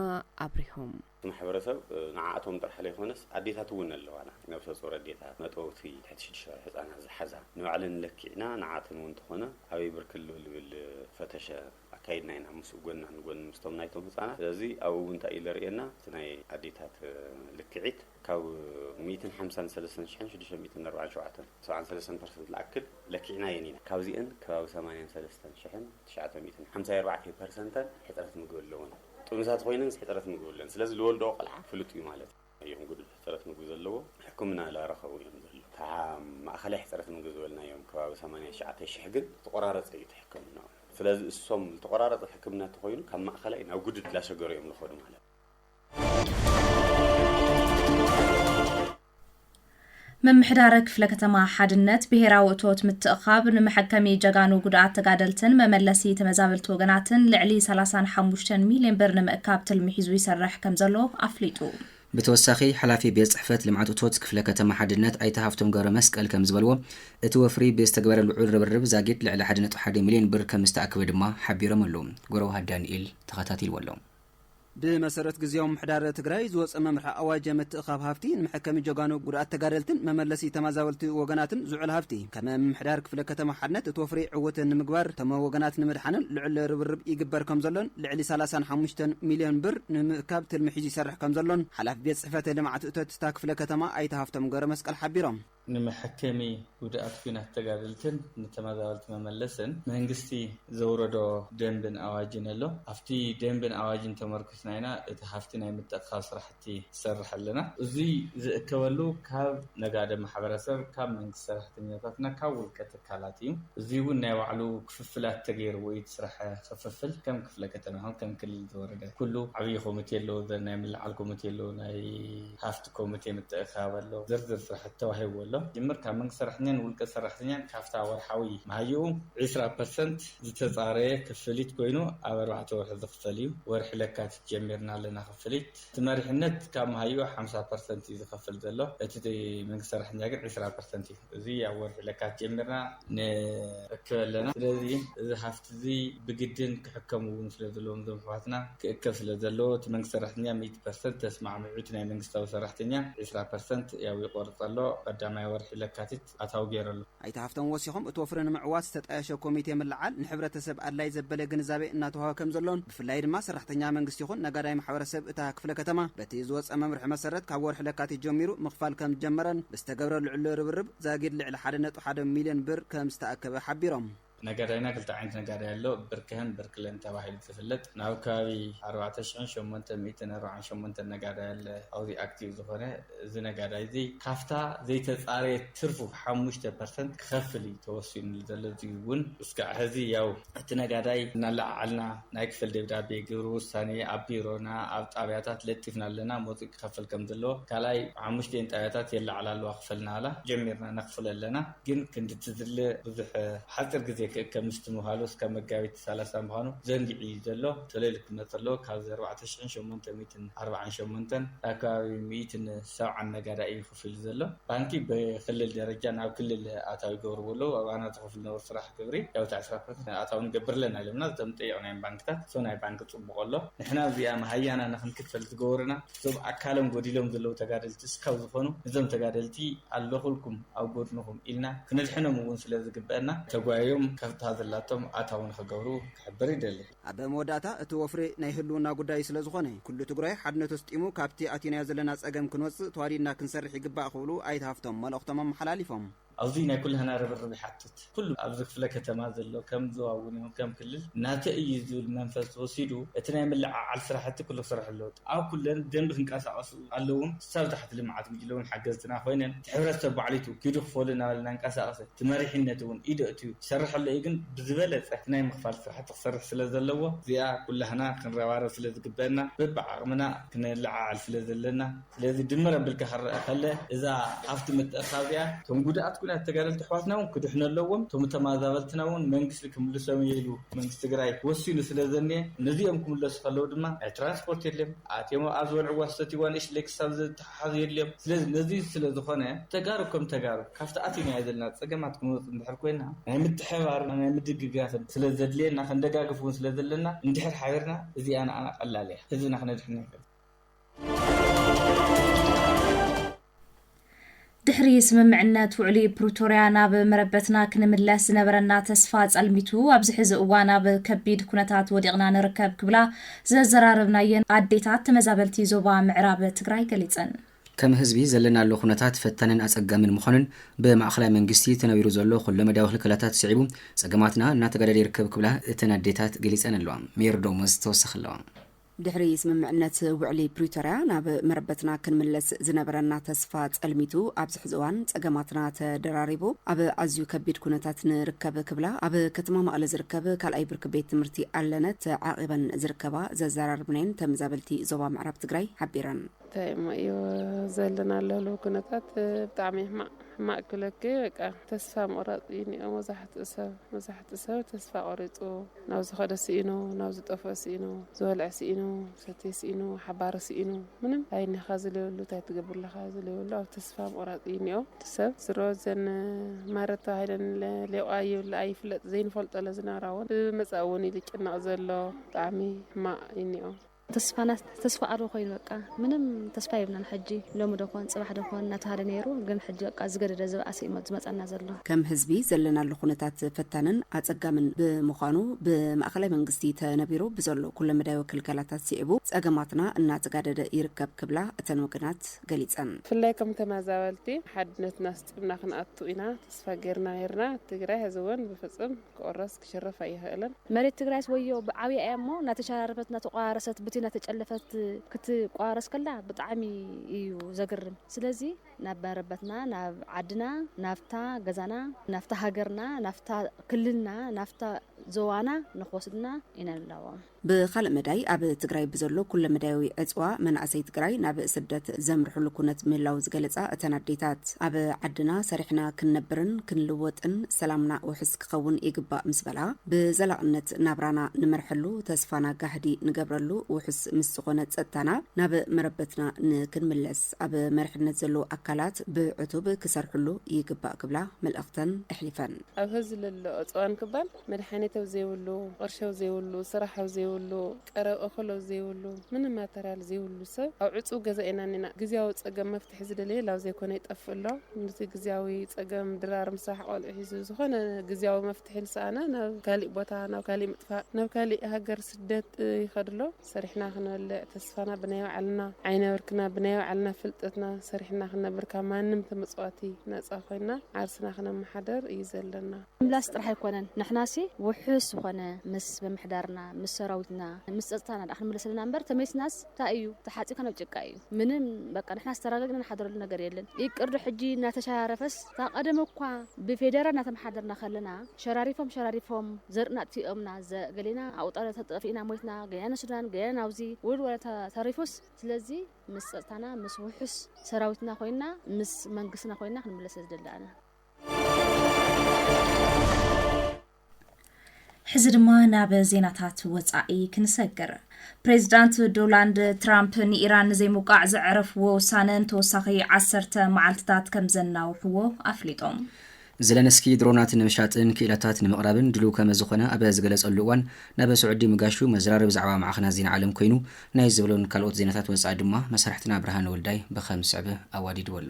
B: ኣብሪሆም። እቲ ማሕበረሰብ
I: ንዓኣቶም ጥራሕ ለይኾነስ ኣዴታት እውን ኣለዋና፣ ነብሰፁር ኣዴታት፣ መጥበውቲ፣ ትሕቲ ሽዱሽተ ወርሒ ህፃናት ዝሓዛ ንባዕለን ለኪዕና ንዓኣተን እውን ተኾነ ኣበይ ብርኪ ኣሎ ልብል ፈተሸ፣ ኣካይድና ኢና ምስ ጎና ንጎኒ ምስቶም ናይቶም ህጻናት ስለዚ ኣብኡ እውን እንታይ እዩ ዘርእየና እቲ ናይ ኣዴታት ልክዒት ካብ ሚእትን ሓምሳን ሰለስተን ሽሕን ሽዱሽተ ሚእትን ኣርባዓን ሸውዓተን ሰብዓን ሰለስተን ፐርሰንት ልኣክል ለኪዕናየን ኢና ካብዚአን ከባቢ ሰማንያን ሰለስተን ሽሕን ትሽዓተ ሚእትን ሓምሳይ ኣርባዕተይ ፐርሰንተን ሕፅረት ምግቢ ኣለወን ጥኑሳት ኮይነን ሕፅረት ምግቢ ኣለወን ስለዚ ልወልደኦ ቆልዓ ፍሉጥ እዩ ማለት እዩ እዮም ጉዱል ሕፅረት ምግቢ ዘለዎ ሕክምና እላረኸቡ እዮም ዘለዉ ካዓ ማእኸላይ ሕፅረት ምግቢ ዝበልናዮም ከባቢ ሰማንያ ትሽዓተ ሽሕ ግን ዝተቆራረፀ እዩ እቲ ሕክምንኦም ስለዚ እሶም ዝተቆራረፀ ሕክምና እንተኾይኑ ካብ ማእኸላይ ናብ ጉድድ እላሸገሩ እዮም ልኸዱ ማለት እዩ።
D: ምምሕዳረ ክፍለ ከተማ ሓድነት ብሄራዊ እቶት ምትእኻብ ንመሐከሚ ጀጋኑ ጉድኣት ተጋደልትን መመለሲ ተመዛበልቲ ወገናትን ልዕሊ ሰላሳን ሓሙሽተን ሚሊየን ብር ንምእካብ ትልሚ ሒዙ ይሰርሕ ከምዘሎ ኣፍሊጡ። ብተወሳኺ
C: ሓላፊ ቤት ፅሕፈት ልምዓት እቶት ክፍለ ከተማ ሓድነት ኣይተ ሃፍቶም ገብረመስቀል ከምዝበልዎ፣ እቲ ወፍሪ ብዝተገበረ ልዑል ርብርብ ዛጊድ ልዕሊ ሓደ ነጥቢ ሓደ ሚሊየን ብር ከምዝተኣከበ ድማ ሓቢሮም ኣለው። ጎረውሃ ዳኒኤል ተኸታቲልዎ ኣሎ። ብመሰረት
J: ግዝያዊ ምምሕዳር ትግራይ ዝወፀ መምርሒ ኣዋጅ ምትእኻብ ሃፍቲ ንመሐከሚ ጀጋኑ ጉድኣት ተጋደልትን መመለሲ ተማዛበልቲ ወገናትን ዝውዕል ሃፍቲ ከም ምምሕዳር ክፍለ ከተማ ሓድነት እቲ ወፍሪ ዕውት ንምግባር እቶም ወገናት ንምድሓንን ልዑል ርብርብ ይግበር ከምዘሎን ልዕሊ ሰላሳን ሓሙሽተን ሚልዮን ብር ንምእካብ ትልሚ ሒዙ ይሰርሕ ከምዘሎን ሓላፊ ቤት ፅሕፈት ልምዓት እቶት እታ ክፍለ ከተማ ኣይተ ሃፍቶም ገብረመስቀል ሓቢሮም። ንመሐከሚ
K: ጉድኣት ኩናት ተጋደልትን ንተመዛበልቲ መመለስን መንግስቲ ዘውረዶ ደንብን ኣዋጅን ኣሎ። ኣብቲ ደንብን ኣዋጅን ተመርኩስና ኢና እቲ ሃፍቲ ናይ ምትእኽኻብ ስራሕቲ ዝሰርሕ ኣለና። እዙይ ዝእከበሉ ካብ ነጋዶ ማሕበረሰብ፣ ካብ መንግስቲ ሰራሕተኛታትና ካብ ውልቀ ትካላት እዩ። እዙይ እውን ናይ ባዕሉ። ክፍፍላት ተገይርዎ እዩ እቲ ስራሕ ክፍፍል ከም ክፍለ ከተማ ይኹን ከም ክልል ዝወረደ ኩሉ ዓብይ ኮሚቴ ኣለዎ ናይ ምልዓል ኮሚቴ ኣለዎ ናይ ሃፍቲ ኮሚቴ ምትእኽኻብ ኣሎ ዝርዝር ስራሕቲ ተዋሂብዎ ኣሎ ዝጅምር ካብ መንግስቲ ሰራሕተኛን ንውልቀ ሰራሕተኛን ካፍታ ወርሓዊ መሃይኡ ዕስራ ፐርሰንት ዝተፃረየ ክፍሊት ኮይኑ ኣብ ኣርባዕተ ወርሒ ዝኽፈል እዩ ወርሒ ለካቲት ጀሚርና ኣለና ክፍሊት እቲ መሪሕነት ካብ መሃይኡ ሓምሳ ፐርሰንት እዩ ዝኸፍል ዘሎ እቲ መንግስቲ ሰራሕተኛ ግን ዕስራ ፐርሰንት እዩ እዚ ኣብ ወርሒ ለካቲት ጀሚርና ንእክብ ኣለና። ስለዚ እዚ ሃፍቲ እዚ ብግድን ክሕከም እውን ስለ ዘለዎም እዞም ኣሕዋትና ክእከብ ስለ ዘለዎ እቲ መንግስቲ ሰራሕተኛ ሚእቲ ፐርሰንት ተስማዕሚዑ እቲ ናይ መንግስታዊ ሰራሕተኛ ዕስራ ፐርሰንት ያው ይቆርፅ ኣሎ ቀዳማይ ወርሒ ለካቲት ኣታዊ ገይሩ ኣሎ። ኣይተ ሃፍቶም ወሲኾም
J: እቲ ወፍሪ ንምዕዋት ዝተጣየሸ ኮሚቴ ምልዓል ንሕብረተሰብ ኣድላይ ዘበለ ግንዛቤ እናተውሃበ ከም ዘሎን ብፍላይ ድማ ሰራሕተኛ መንግስቲ ይኹን ነጋዳይ ማሕበረሰብ እታ ክፍለ ከተማ በቲ ዝወፀ መምርሒ መሰረት ካብ ወርሒ ለካቲት ጀሚሩ ምኽፋል ከም ዝጀመረን ዝተገብረ ልዑል ርብርብ ዛጊድ ልዕሊ ሓደ ነጥቢ ሓደ ሚልዮን ብር ከምዝተኣከበ ሓቢሮም። ነጋዳይና ክልተ
K: ዓይነት ነጋዳይ ኣሎ፣ ብርክህን ብርክለን ተባሂሉ ዝፍለጥ። ናብ ከባቢ ኣርባዕተ ሽሕን ሸሞንተ ሚእትን ኣርብዓን ሸሞንተን ነጋዳይ ኣለ ኣብዚ ኣክቲቭ ዝኾነ። እዚ ነጋዳይ እዚ ካብታ ዘይተፃረየት ትርፉ ሓሙሽተ ፐርሰንት ክኸፍል እዩ ተወሲኑሉ ዘሎ። እዙይ እውን እስካዕ ሐዚ ያው እቲ ነጋዳይ እናለዓዓልና ናይ ክፈል ደብዳቤ ግብሪ ውሳኔ ኣብ ቢሮና ኣብ ጣብያታት ለጢፍና ኣለና መጹ ክኸፈል ከም ዘለዎ ካልኣይ ሓሙሽቲኤን ጣብያታት የለዓዕላ ኣለዋ ክፈል እናበላ ጀሚርና ነኽፍሎ ኣለና ግን ክንዲ እቲ ዝድለ ብዙሕ ኣብ ሓጺር ግዜ ክእከብ ምስቲ ምባሉ እስካብ መጋቢት ሰላሳ ምዃኑ ዘንጊዑ እዩ ዘሎ ተለልዩ ክመጽ ኣለዎ ካብዚ ኣርባዕተ ሽሕን ሸሞንተ ሚእትን ኣርብዓን ሸሞንተን ኣብ ከባቢ ሚእትን ሰብዓን ነጋዳይ እዩ ክፍሊ ዘሎ ባንኪ ብክልል ደረጃ ናብ ክልል ኣታዊ ይገብርዎ ኣለዉ ኣብ ኣና ዝከፍሉ ዝነበሩ ስራሕ ግብሪ ያው ታዕሲ ካብ ክልል ኣታዊ ንገብር ኣለና ኢሎምና እቶም ዝጠየቅናዮም ባንክታት እቶ ናይ ባንኪ ጽቡቅ ኣሎ ንሕና እዚኣ መሃያና ንክንክፈል ዝገበሩና እዞም ኣካሎም ጎዲሎም ዘለዉ ተጋደልቲ እስካብ ዝኮኑ ነዞም ተጋደልቲ ኣለኩልኩም ኣብ ጎድንኩም ኢልና ክነድሕኖም እዉን ስለ ዝግበእና ተጓይዮም ከፍታ ዘላቶም ኣታዊ ንክገብሩ ክሕብር ይደሊ። ኣብ መወዳእታ እቲ
J: ወፍሪ ናይ ህልውና ጉዳይ ስለ ዝኾነ ኩሉ ትግራይ ሓድነቱ ኣስጢሙ ካብቲ ኣቲናዮ ዘለና ፀገም ክንወፅእ ተዋዲድና ክንሰርሕ ይግባእ ክብሉ ኣይተ ሃፍቶም መልእኽቶም ኣመሓላሊፎም። ኣዙይ ናይ ኩላህና
K: ርብርብ ይሓትት። ኩሉ ኣብዚ ክፍለ ከተማ ዘሎ ከም ዞባ እውን ይኹን ከም ክልል ናተይ እዩ ዝብል መንፈስ ወሲዱ እቲ ናይ ምልዕዓል ስራሕቲ ኩሉ ክሰርሕ ኣለዎ። ኣብ ኩለን ደንቢ ክንቀሳቐሱ ኣለዉን ክሳብ ታሕቲ ልምዓት ጉጅለውን ሓገዝትና ኮይነን እቲ ሕብረተሰብ ባዕሊቱ ኪዱ ክፈሉ እናበለ እናንቀሳቐሰ እቲ መሪሕነት እውን ኢዱ ኣእትዩ ክሰርሕ ኣለዎ እዩ ግን ብዝበለፀ እቲ ናይ ምኽፋል ስራሕቲ ክሰርሕ ስለ ዘለዎ እዚኣ ኩላህና ክንረባረብ ስለ ዝግበእና በቢዓቕምና ክነለዓዕል ስለ ዘለና ስለዚ ድምር ኣብልካ ክረኣ ከለ እዛ ሃፍቲ ምትእኽኻብ እዚኣ እቶም ጉድኣት ኩናት ተጋደልቲ ኣሕዋትና እውን ክድሕኑ ኣለዎም እቶም ተማዛበልትና እውን መንግስቲ ክምልሶም እየ ኢሉ መንግስቲ ትግራይ ወሲኑ ስለ ዘኒኤ ነዚኦም ክምለሱ ከለው ድማ ናይ ትራንስፖርት የድልዮም ኣትዮም ኣብ ዝበልዕዋ ዝሰትይዋ ንእሽለይ ክሳብ ዘተሓሓዙ የድልዮም ስለዚ ነዚ ስለ ዝኾነ ተጋሩ ከም ተጋሩ ካብቲ ኣቲናዮ ዘለና ፀገማት ክንወፅእ እንድሕር ኮይና ናይ ምትሕብባርን ናይ ምድግጋፍን ስለ ዘድልየና ክንደጋግፍ እውን ስለ ዘለና እንድሕር ሓቢርና እዚኣ ንኣና ቀላል እያ ህዝብና ክነድሕን ንኽእል
D: ድሕሪ ስምምዕነት ውዕሊ ፕሪቶርያ ናብ መረበትና ክንምለስ ዝነበረና ተስፋ ጸልሚቱ ኣብዚ ሕዚ እዋን ኣብ ከቢድ ኩነታት ወዲቕና ንርከብ ክብላ ዘዘራረብናየን ኣዴታት ተመዛበልቲ ዞባ ምዕራብ ትግራይ ገሊጸን። ከም ህዝቢ
C: ዘለናሉ ኩነታት ፈታንን ኣጸጋምን ምዃኑን ብማእኸላይ መንግስቲ ተነቢሩ ዘሎ ኩሎ መዳዊ ክልከላታት ስዒቡ ጸገማትና እናተጋደደ ይርከብ ክብላ እተን ኣዴታት ገሊጸን ኣለዋ። ሜሪ ዶሞዝ ተወሳኺ ኣለዋ። ድሕሪ
B: ስምምዕነት ውዕሊ ፕሪቶርያ ናብ መረበትና ክንምለስ ዝነበረና ተስፋ ጸልሚቱ ኣብዚ ሕዚ እዋን ጸገማትና ተደራሪቡ ኣብ ኣዝዩ ከቢድ ኩነታት ንርከብ ክብላ ኣብ ከተማ መቐለ ዝርከብ ካልኣይ ብርኪ ቤት ትምህርቲ ኣለነ ተዓቂበን ዝርከባ ዘዘራርብናየን ተመዛበልቲ ዞባ ምዕራብ ትግራይ ሓቢረን። እንታይ እሞ እዩ
L: ዘለናሉ ህልው ኩነታት ብጣዕሚ ሕማቅ ሕማቅ ክብለኪ በቃ ተስፋ ምቁራፅ እዩ ኒኦ መብዛሕትኡ ሰብ መብዛሕትኡ ሰብ ተስፋ ቆሪፁ ናብ ዝኸደ ስኢኑ፣ ናብ ዝጠፍኦ ስኢኑ፣ ዝበልዐ ስኢኑ፣ ዝሰትየ ስኢኑ፣ ሓባሪ ስኢኑ፣ ምንም ኣይኒኻ ዝልየሉ ታይ ትገብር ኣለኻ ዝልየሉ ኣብ ተስፋ ምቑራጽ እዩ እኒኦ እቲ ሰብ። ዝሮ እዘን ማረት ተባሂለን ሌቋ ይብላ ኣይፍለጥ ዘይንፈልጦ ለዝነብራ እውን ብመጻኢ እውን እዩ ልጭነቕ ዘሎ ብጣዕሚ ሕማቕ እዩ እኒኦ። ተስፋና
M: ተስፋ ኣልቦ ኮይኑ በቃ ምንም ተስፋ የብልናን ሕጂ ሎሚ ዶ ኮን ጽባሕ ዶ ኮን እናተባህለ ነይሩ ግን ሕጂ በቃ ዝገደደ ዝበኣሰ እዩ ዝመጻና ዘሎ። ከም ህዝቢ ዘለናሉ
B: ኩነታት ፈታንን ኣጸጋምን ብምዃኑ ብማእከላይ መንግስቲ ተነቢሩ ብዘሎ ኩለመዳያዊ ክልከላታት ስዒቡ ጸገማትና እናተጋደደ ይርከብ ክብላ እተን ወገናት ገሊጸን። ብፍላይ ከም
L: ተመዛበልቲ ሓድነትና ኣስጢምና ክንኣቱ ኢና ተስፋ ጌርና ነይርና፣ ትግራይ ሕዚ እውን ብፍጹም ክቑረስ፣ ክሽረፍ ኣይኽእልን። መሬት ትግራይስ ወዮ
M: ብዓብያ እያ እሞ ናተሸራረፈት ናተቆራረሰት ብቲ ናተጨለፈት ክትቆራረስ ከላ ብጣዕሚ እዩ ዘግርም ስለዚ ናብ መረበትና ናብ ዓድና ናብታ ገዛና ናብታ ሃገርና ናብታ ክልልና ናብታ ዞባና ንክወስዱና ኢና ንላቦም። ብኻልእ መዳይ
B: ኣብ ትግራይ ብዘሎ ኩለመዳያዊ ዕፅዋ መናእሰይ ትግራይ ናብ ስደት ዘምርሕሉ ኩነት ምህላው ዝገለፃ እተን ኣዴታት፣ ኣብ ዓድና ሰሪሕና ክንነብርን ክንልወጥን ሰላምና ውሕስ ክኸውን ይግባእ ምስ በላ፣ ብዘላቕነት ናብራና ንመርሐሉ፣ ተስፋና ጋህዲ ንገብረሉ፣ ውሑስ ምስ ዝኾነ ፀጥታና ናብ መረበትና ንክንምለስ ኣብ መሪሕነት ዘለዉ ኣካላት ብዕቱብ ክሰርሕሉ ይግባእ ክብላ መልእኽተን ኣሕሊፈን። ኣብ ሀዚ ለሎ
L: ዕፅዋን ክባል መድሓኒት ኣብ ዘይብሉ፣ ቕርሺ ኣብ ዘይብሉ፣ ስራሕ ኣብ ዘይብሉ፣ ቀረብ እኹል ኣብ ዘይብሉ፣ ምንም ማተርያል ዘይብሉ ሰብ ኣብ ዕፁው ገዛ ኢና እኒና። ግዝያዊ ፀገም መፍትሒ ዝደለየ ላብ ዘይኮነ ይጠፍእ ኣሎ። ኑቲ ግዝያዊ ፀገም ድራር፣ ምሳሕ፣ ቖልዑ ሒዙ ዝኾነ ግዝያዊ መፍትሒ ልሰኣነ ናብ ካሊእ ቦታ፣ ናብ ካሊእ ምጥፋእ፣ ናብ ካሊእ ሃገር ስደት ይኸድ ኣሎ። ሰሪሕና ክንበልዕ ተስፋና ብናይ ባዕልና ዓይነብርክና ብናይ ባዕልና ፍልጠትና ሰሪሕና ክንነብር ካብ ማንም ተመጽዋቲ ነጻ ኮይና ዓርስና ክነመሓደር እዩ ዘለና። ምምላስ ጥራሕ ኣይኮነን
M: ንሕናሲ ውሑስ ዝኾነ ምስ ምምሕዳርና ምስ ሰራዊትና ምስ ጸጥታና ድኣ ክንምለስ ኣለና እምበር ተመሊስናስ ታይ እዩ ተሓጺብካ ናብ ጭቃ እዩ። ምንም በቃ ንሕና ዝተራገግና ንሓድረሉ ነገር የለን ይቅር ዶ ሕጂ እናተሸራረፈስ እታ ቀደም እኳ ብፌደራል እናተመሓደርና ከለና ሸራሪፎም ሸራሪፎም ዘርእና ኣጥፊኦምና ዘ ገሌና ኣብኡ ጠጠፊእና ሞይትና ገሌና ንሱዳን ገሌና ናብዚ ውርድ ወረታ ተሪፉስ ስለዚ ምስ ጸጥታና ምስ ውሑስ ሰራዊትና ኮይና ምስ መንግስትና ኮይና ክንምለስ ስለ ዝደሊ ኣነ
D: ሕዚ ድማ ናብ ዜናታት ወፃኢ ክንሰግር። ፕሬዚዳንት ዶላንድ ትራምፕ ንኢራን ንዘይምውቃዕ ዘዕረፍዎ ውሳነ ንተወሳኺ ዓሰርተ መዓልትታት ከም ዘናውሕዎ ኣፍሊጦም። ዘለንስኪ
C: ድሮናት ንምሻጥን ክኢላታት ንምቕራብን ድልው ከመዝኾነ ኣብ ዝገለጸሉ እዋን ናብ ስዑዲ ምጋሹ መዘራረቢ ዛዕባ ማዕኸናት ዜና ዓለም ኮይኑ ናይ ዝብሎን ካልኦት ዜናታት ወፃኢ ድማ መሳርሕትና ብርሃነ ወልዳይ ብኸም ዝስዕብ ኣዋዲድዎ ኣሎ።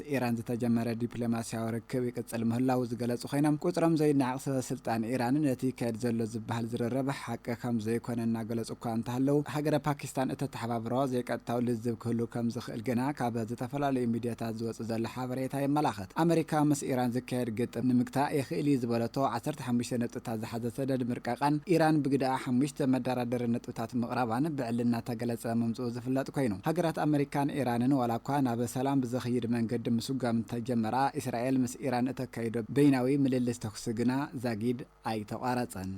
N: ኢራን ዝተጀመረ ዲፕሎማስያዊ ርክብ ይቅጽል ምህላዉ ዝገለጹ ኮይኖም፣ ቁጽሮም ዘይነዓቕ ሰበ ስልጣን ኢራን ነቲ ይካየድ ዘሎ ዝበሃል ዝርርብ ሓቂ ከም ዘይኮነ እናገለጹ እኳ እንተሃለዉ፣ ሃገረ ፓኪስታን እተተሓባብሮ ዘይቀጥታዊ ልዝብ ክህሉ ከም ዝኽእል ግና ካብ ዝተፈላለዩ ሚድያታት ዝወጽእ ዘሎ ሓበሬታ የመላኽት። ኣመሪካ ምስ ኢራን ዝካየድ ግጥም ንምግታእ የኽእል እዩ ዝበለቶ ዓሰርተ ሓሙሽተ ነጥብታት ዝሓዘ ሰደድ ምርቃቓን፣ ኢራን ብግደኣ ሓሙሽተ መደራደሪ ነጥብታት ታት ምቕራባን ብዕሊ እናተገለጸ ምምጽኡ ዝፍለጥ ኮይኑ፣ ሃገራት ኣመሪካን ኢራንን ዋላኳ ናብ ሰላም ብዘኽይድ መንገዲ ምስጓም እንተጀመራ፣ ኢስራኤል ምስ ኢራን እተካይዶ በይናዊ ምልልስ ተኹሲ ግና ዛጊድ ኣይተቋረጸን።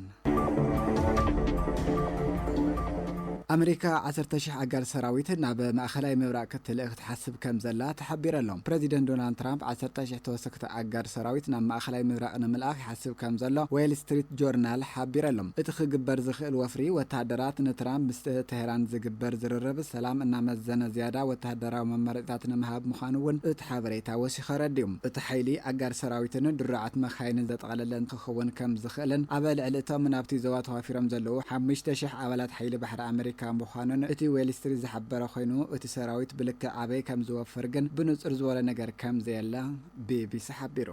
N: ኣመሪካ ዓሰርተ ሽሕ ኣጋር ሰራዊት ናብ ማእከላይ ምብራቕ ክትልእኽ ትሓስብ ከም ዘላ ተሓቢረሎም። ፕረዚደንት ዶናልድ ትራምፕ ዓሰርተ ሽሕ ተወሰኽቲ ኣጋር ሰራዊት ናብ ማእኸላይ ምብራቕ ንምልኣኽ ይሓስብ ከም ዘሎ ዌል ስትሪት ጆርናል ሓቢረሎም። እቲ ክግበር ዝኽእል ወፍሪ ወተሃደራት ንትራምፕ ምስ ተህራን ዝግበር ዝርርብ ሰላም እናመዘነ ዝያዳ ወተሃደራዊ መማረፂታት ንምሃብ ምዃኑ እውን እቲ ሓበሬታ ወሲኹ ኣረዲኡ። እቲ ሓይሊ ኣጋር ሰራዊትን ድሩዓት መካይንን ዘጠቓለለ ክኽውን ከም ዝኽእልን ኣብ ልዕሊ እቶም ናብቲ ዞባ ተዋፊሮም ዘለዉ ሓሙሽተ ሽሕ ኣባላት ሓይሊ ባሕሪ ኣመሪካ ምዃኑን እቲ ዌል ስትሪት ዝሓበረ ኮይኑ እቲ ሰራዊት ብልክዕ ኣበይ ከም ዝወፍር ግን ብንጹር ዝበሎ ነገር ከም ዘየለ ቢቢሲ ሓቢሩ።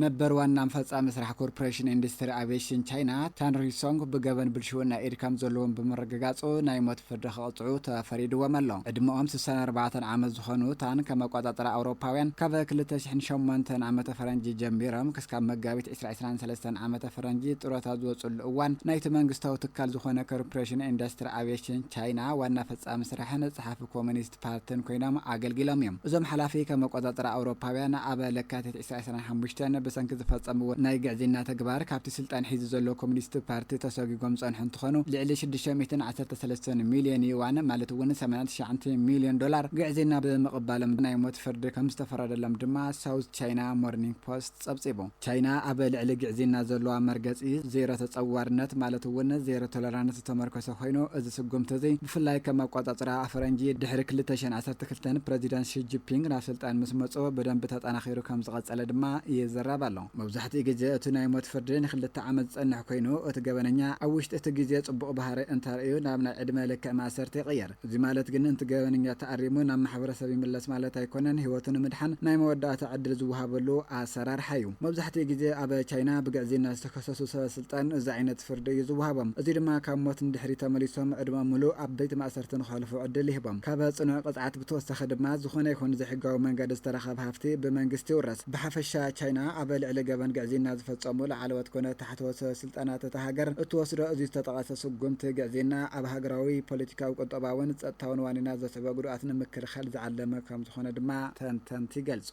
N: ነበር ዋና ፈጻሚ ስራሕ ኮርፖሬሽን ኢንዱስትሪ ኣቪየሽን ቻይና ታን ሪሶንግ ብገበን ብልሽውና ኢድ ከም ዘለዎም ብምርግጋጹ ናይ ሞት ፍርዲ ክትቅፅዑ ተፈሪድዎም ኣሎ። ዕድመኦም ስሳን ኣርባዕተን ዓመት ዝኾኑ እታን ከም ኣቋፃፅራ ኣውሮፓውያን ካብ ክልተ ሽሕን ሸሞንተን ዓመተ ፈረንጂ ጀሚሮም ክስካብ መጋቢት ዕስራ ዕስራን ሰለስተን ዓመተ ፈረንጂ ጡረታ ዝወፅሉ እዋን ናይቲ መንግስታዊ ትካል ዝኾነ ኮርፖሬሽን ኢንዳስትሪ ኣቪዬሽን ቻይና ዋና ፈፃሚ ስራሕን ፀሓፊ ኮሚኒስት ፓርትን ኮይኖም ኣገልጊሎም እዮም። እዞም ሓላፊ ከም ኣቋፃፅራ ኣውሮፓውያን ኣብ ለካቲት ኢሳያስ ናይ ሓሙሽተ ን ብሰንኪ ዝፈጸምዎ ናይ ግዕዝይና ተግባር ካብቲ ስልጣን ሒዙ ዘሎ ኮሚኒስት ፓርቲ ተሰጒጎም ዝጸንሑ እንትኾኑ ልዕሊ ሽዱሽተ ሚእትን ዓሰርተ ሰለስተን ሚልዮን ዩዋን ማለት እውን ሰማንያ ትሽዓንተ ሚልዮን ዶላር ግዕዝይና ብምቕባሎም ናይ ሞት ፍርዲ ከምዝተፈረደሎም ድማ ሳውዝ ቻይና ሞርኒንግ ፖስት ጸብጺቡ። ቻይና ኣብ ልዕሊ ግዕዝይና ዘሎዋ መርገጺ ዜሮ ተጸዋርነት ማለት እውን ዜሮ ቶለራንስ ዝተመርኮሰ ኮይኑ እዚ ስጉምቲ እዚ ብፍላይ ከም ኣቋጻጽራ ኣፈረንጂ ድሕሪ ክልተ ሽሕን ዓሰርተ ክልተን ፕረዚደንት ሺ ጂፒንግ ናብ ስልጣን ምስ መጽኦ ብደንቢ ተጠናኺሩ ከም ዝቐጸለ ድማ ይዘረብ ኣሎ። መብዛሕትኡ ግዜ እቲ ናይ ሞት ፍርዲ ንክልተ ዓመት ዝጸንሕ ኮይኑ፣ እቲ ገበነኛ ኣብ ውሽጢ እቲ ግዜ ጽቡቕ ባህርይ እንተርእዩ ናብ ናይ ዕድመ ልክዕ ማእሰርቲ ይቕየር። እዚ ማለት ግን እቲ ገበነኛ ተኣሪሙ ናብ ማሕበረሰብ ይምለስ ማለት ኣይኮነን፣ ህይወቱ ንምድሓን ናይ መወዳእታ ዕድል ዝወሃበሉ ኣሰራርሓ'ዩ። መብዛሕትኡ ግዜ ኣብ ቻይና ብግዕዝይና ዝተኸሰሱ ሰበ ስልጣን እዚ ዓይነት ፍርዲ እዩ ዝወሃቦም። እዚ ድማ ካብ ሞት ንድሕሪት ተመሊሶም ዕድመኦም ምሉእ ኣብ ቤት ማእሰርቲ ንኸሕልፉ ዕድል ይህቦም። ካብ ፅኑዕ ቅፅዓት ብተወሳኺ ድማ ዝኾነ ይኹን ብዘይሕጋዊ መንገዲ ዝተረኸበ ሃፍቲ ብመንግስቲ ይውረስ። ብሓፈሻ ቻይና ኣብ ልዕሊ ገበን ግዕዝይና ዝፈፀሙ ላዕለዎት ኮነ ታሕተዎት ሰበ ስልጣናት እታ ሃገር እትወስዶ እዚ ዝተጠቐሰ ስጉምቲ ግዕዝይና ኣብ ሃገራዊ ፖለቲካዊ፣ ቁጠባዊን ፀጥታዊን ዋኒናት ዘስዕቦ ጉድኣት ንምክልኻል ዝዓለመ ከምዝኾነ ድማ ተንተንቲ ይገልፁ።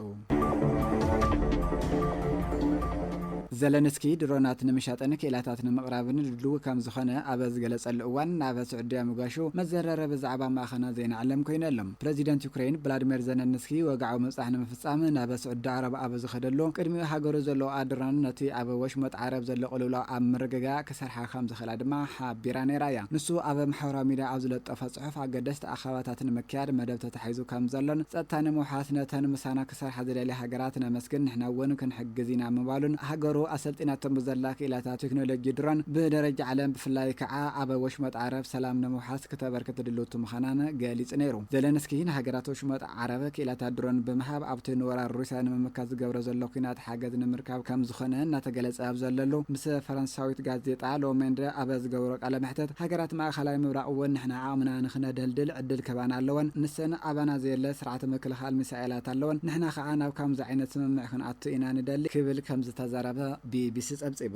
N: ዘለንስኪ ድሮናት ንምሻጥን ክኢላታት ንምቕራብን ድሉው ከም ዝኾነ ኣብ ዝገለጸሉ እዋን ናብ ስዑድያ ምጓሹ መዘራረቢ ዛዕባ ማእኸናት ዜና ዓለም ኮይኑ ኣሎ። ፕረዚደንት ዩክረይን ብላድሜር ዘለንስኪ ወግዓዊ ምብጻሕ ንምፍጻም ናብ ስዑዲ ዓረብ ኣብ ዝኸደሉ ቅድሚኡ ሃገሩ ዘለውኣ ድሮን ነቲ ኣብ ወሽመጥ ዓረብ ዘሎ ቅልውላው ኣብ ምርግጋእ ክሰርሓ ከም ዝኽእላ ድማ ሓቢራ ነይራ እያ። ንሱ ኣብ ማሕበራዊ ሚድያ ኣብ ዝለጠፎ ጽሑፍ ኣገደስቲ ኣኸባታት ንምክያድ መደብ ተታሒዙ ከም ዘሎን፣ ጸጥታ ንምውሓስ ነተን ምሳና ክሰርሓ ዝደልያ ሃገራት ነመስግን፣ ንሕና እውን ክንሕግዝ ኢና ምባሉን፣ ሃገሩ ኣሰልጢናቶም ብዘላ ክኢላታት ቴክኖሎጂ ድሮን ብደረጃ ዓለም ብፍላይ ከኣ ኣብ ወሽመጥ ዓረብ ሰላም ንምውሓስ ክተበርክት ድልውቲ ምዃናን ገሊጹ ነይሩ። ዘለንስኪ ንሃገራት ወሽመጥ ዓረብ ክኢላታት ድሮን ብምሃብ ኣብቲ ንወራር ሩስያ ንምምካት ዝገብሮ ዘሎ ኲናት ሓገዝ ንምርካብ ከም ዝኾነ እናተገለጸ ኣብ ዘለሉ ምስ ፈረንሳዊት ጋዜጣ ሎመንደ ኣብ ዝገበሮ ቃለ መሕትት ሃገራት ማእከላይ ምብራቕ እውን ንሕና ዓቕምና ንክነደልድል ዕድል ክህባና ኣለወን ንሰን ኣባና ዘየለ ስርዓተ ምክልኻል ሚሳኤላት ኣለወን ንሕና ከኣ ናብ ካምዚ ዓይነት ስምምዕ ክንኣቱ ኢና ንደሊ ክብል ከምዝተዛረበ ቢቢሲ ጸብጺቡ።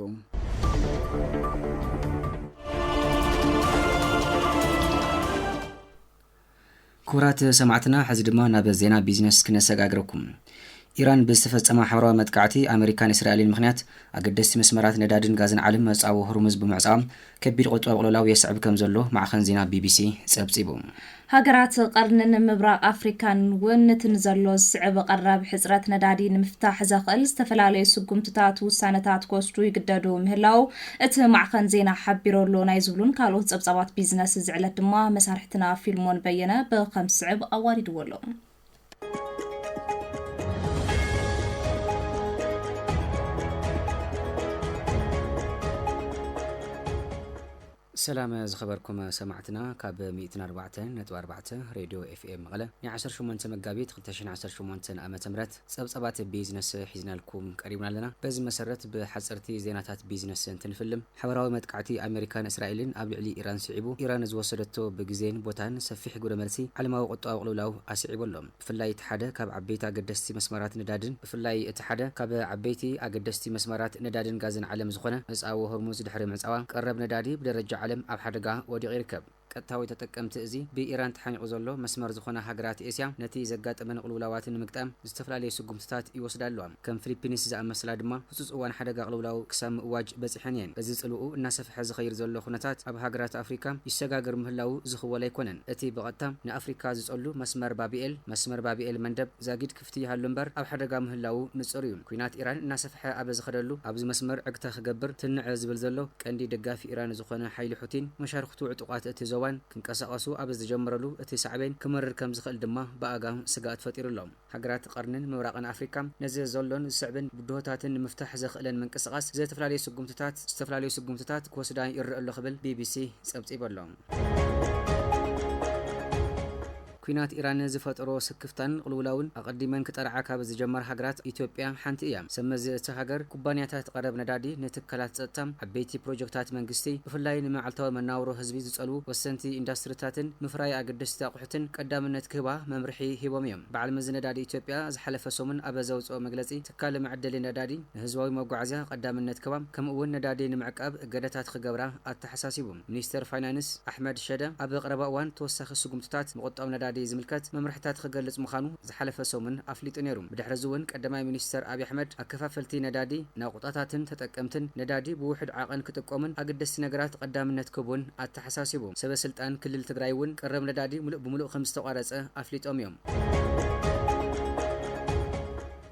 C: ክቡራት ሰማዕትና ሕዚ ድማ ናብ ዜና ቢዝነስ ክነሰጋግረኩም። ኢራን ብዝተፈጸማ ሓበራዊ መጥቃዕቲ ኣመሪካን እስራኤልን ምኽንያት ኣገደስቲ መስመራት ነዳድን ጋዝን ዓለም መጻብቦ ሆርሙዝ ብምዕጻዋ ከቢድ ቁጠባዊ ቅልውላው የስዕብ ከምዘሎ ማዕኸን ዜና ቢቢሲ ጸብጺቡ። ሃገራት
D: ቐርኒን ምብራቕ ኣፍሪካን እውን እቲ ንዘሎ ዝስዕብ ቐረብ ሕጽረት ነዳዲ ንምፍታሕ ዘኽእል ዝተፈላለዩ ስጉምትታት ውሳነታት ክወስዱ ይግደዱ ምህላው እቲ ማዕኸን ዜና ሓቢሩ ኣሎ። ናይ ዝብሉን ካልኦት ጸብጻባት ቢዝነስ እዚ ዕለት ድማ መሳርሕትና ፊልሞን በየነ ብኸም ዝስዕብ ኣዋዲድዎ ኣሎ።
C: ሰላም ዝኸበርኩም ሰማዕትና ካብ 14 ሬድዮ ኤፍኤም መቐለ ናይ 18 መጋቢት 218 ዓ ም ጸብጻባት ቢዝነስ ሒዝናልኩም ቀሪብና ኣለና በዚ መሰረት ብሓፀርቲ ዜናታት ቢዝነስ እንትንፍልም ሓበራዊ መጥቃዕቲ ኣመሪካን እስራኤልን ኣብ ልዕሊ ኢራን ስዒቡ፣ ኢራን ዝወሰደቶ ብግዜን ቦታን ሰፊሕ ግብረ መልሲ፣ ዓለማዊ ቁጠባዊ ቅልውላው ኣስዒቡ ኣሎ። ብፍላይ እቲ ሓደ ካብ ዓበይቲ ኣገደስቲ መስመራት ነዳድን፣ ብፍላይ እቲ ሓደ ካብ ዓበይቲ ኣገደስቲ መስመራት ነዳድን ጋዝን ዓለም ዝኾነ መጻወ ሆርሙዝ ድሕሪ ምዕጻዋ፣ ቀረብ ነዳዲ ብደረጃ ዓለም ኣብ ሓደጋ ወዲቑ ይርከብ። ቀጥታዊ ተጠቀምቲ እዚ ብኢራን ተሓኒቑ ዘሎ መስመር ዝኾና ሃገራት ኤስያ፣ ነቲ ዘጋጠመን ቕልውላዋትን ንምግጣም ዝተፈላለየ ስጉምትታት ይወስዳ ኣለዋ። ከም ፍሊፒንስ ዝኣመሰላ ድማ ህጹጽ እዋን ሓደጋ ቕልውላው ክሳብ ምእዋጅ በጺሐን እየን። እዚ ጽልውኡ እናሰፍሐ ዝኸይድ ዘሎ ኩነታት ኣብ ሃገራት ኣፍሪካ ይሰጋገር ምህላዉ ዝኽወል ኣይኮነን። እቲ ብቐጥታ ንኣፍሪካ ዝጸሉ መስመር ባብኤል፣ መስመር ባብኤል-መንደብ፣ ዛጊድ፣ ፍትሕ ይሃሉ እምበር ኣብ ሓደጋ ምህላዉ ንጹር እዩ። ኲናት ኢራን እናሰፍሐ ኣብ ዝኸደሉ ኣብዚ መስመር ዕግታ ክገብር ትንዕ ዝብል ዘሎ ቀንዲ ደጋፊ ኢራን ዝኾነ ሓይሊ ሑቲን መሻርኽቱ ዕጡቓት እቲ ዞባን ክንቀሳቐሱ ኣብ ዝጀመረሉ እቲ ሳዕቤን ክመርር ከም ዝኽእል ድማ ብኣጋም ስግኣት ፈጢሩ ኣሎ። ሃገራት ቐርኒን ምብራቕን ኣፍሪካ ነዚ ዘሎን ዝስዕብን ብድሆታትን ንምፍታሕ ዘኽእለን ምንቅስቓስ ዝተፈላለዩ ስጉምትታት ዝተፈላለዩ ስጉምትታት ክወስዳ ይረእ ኣሎ ክብል ቢቢሲ ፀብፂቡ ኣሎ። ኲናት ኢራን ዝፈጠሮ ስክፍታን ቕልውላውን ኣቐዲመን ክጠርዓ ካብ ዝጀመራ ሃገራት ኢትዮጵያ ሓንቲ እያ። ሰብ መዚ እታ ሃገር፣ ኩባንያታት ቐረብ ነዳዲ፣ ንትካላት ጸጥታ፣ ዓበይቲ ፕሮጀክታት መንግስቲ፣ ብፍላይ ንመዓልታዊ መነባብሮ ህዝቢ ዝጸልዉ ወሰንቲ ኢንዳስትሪታትን ምፍራይ ኣገደስቲ ኣቑሑትን ቀዳምነት ክህባ መምርሒ ሂቦም እዮም። በዓል መዚ ነዳዲ ኢትዮጵያ ዝሓለፈ ሰሙን ኣብ ዘውጽኦ መግለጺ፣ ትካል መዐደሊ ነዳዲ ንህዝባዊ መጓዓዝያ ቐዳምነት ክህባ ከምኡ እውን ነዳዲ ንምዕቃብ እገዳታት ኽገብራ ኣተሓሳሲቡ። ሚኒስተር ፋይናንስ ኣሕመድ ሸደ ኣብ ቐረባ እዋን ተወሳኺ ስጉምትታት ምቑጣብ ነዳዲ ዝምልከት መምርሕታት ኽገልፅ ምዃኑ ዝሓለፈ ሰሙን ኣፍሊጡ ነይሩ። ብድሕሪ እዚ እውን ቀዳማይ ሚኒስተር ኣብይ ኣሕመድ ኣከፋፈልቲ ነዳዲ፣ ናቑጣታትን ተጠቀምትን ነዳዲ ብውሑድ ዓቐን ክጥቆሙን ኣገደስቲ ነገራት ቐዳምነት ክህቡን ኣተሓሳሲቡ። ሰበ ስልጣን ክልል ትግራይ እውን ቕረብ ነዳዲ ሙሉእ ብሙሉእ ከምዝተቋረፀ ኣፍሊጦም እዮም።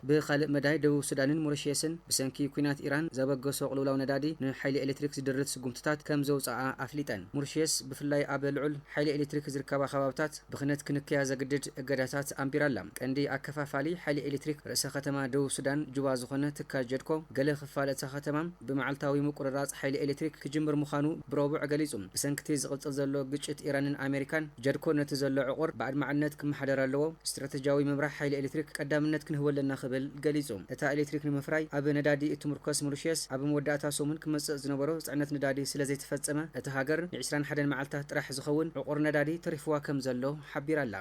C: ብኻልእ መዳይ ደቡብ ሱዳንን ሞሪሽየስን ብሰንኪ ኲናት ኢራን ዘበገሶ ቅልውላው ነዳዲ ንሓይሊ ኤሌክትሪክ ዝድርት ስጉምትታት ከም ዘውጽኣ ኣፍሊጠን። ሞሪሽየስ ብፍላይ ኣብ ልዑል ሓይሊ ኤሌክትሪክ ዝርከባ ከባብታት ብኽነት ክንክያ ዘግድድ እገዳታት ኣንቢራ ኣላ። ቀንዲ ኣከፋፋሊ ሓይሊ ኤሌክትሪክ ርእሰ ከተማ ደቡብ ሱዳን ጁባ ዝኾነ ትካል ጀድኮ ገለ ክፋል እታ ከተማ ብመዓልታዊ ምቁርራጽ ሓይሊ ኤሌክትሪክ ክጅምር ምዃኑ ብሮቡዕ ገሊጹ። ብሰንኪ'ቲ ዝቕጽል ዘሎ ግጭት ኢራንን ኣሜሪካን፣ ጀርኮ ነቲ ዘሎ ዕቑር ብኣድማዕነት ክመሓደር ኣለዎ፣ ስትራተጂያዊ ምምራሕ ሓይሊ ኤሌክትሪክ ቀዳምነት ክንህቦ ኣለና ክብል ገሊጹ። እታ ኤሌክትሪክ ንምፍራይ ኣብ ነዳዲ እትምርኮስ ሞሪሽየስ፣ ኣብ መወዳእታ ሰሙን ክመጽእ ዝነበሮ ጽዕነት ነዳዲ ስለዘይተፈጸመ፣ እታ ሃገር ንዕስራን ሓደን መዓልታት ጥራሕ ዝኸውን ዕቑር ነዳዲ ተሪፍዋ ከምዘሎ ሓቢራ'ላ።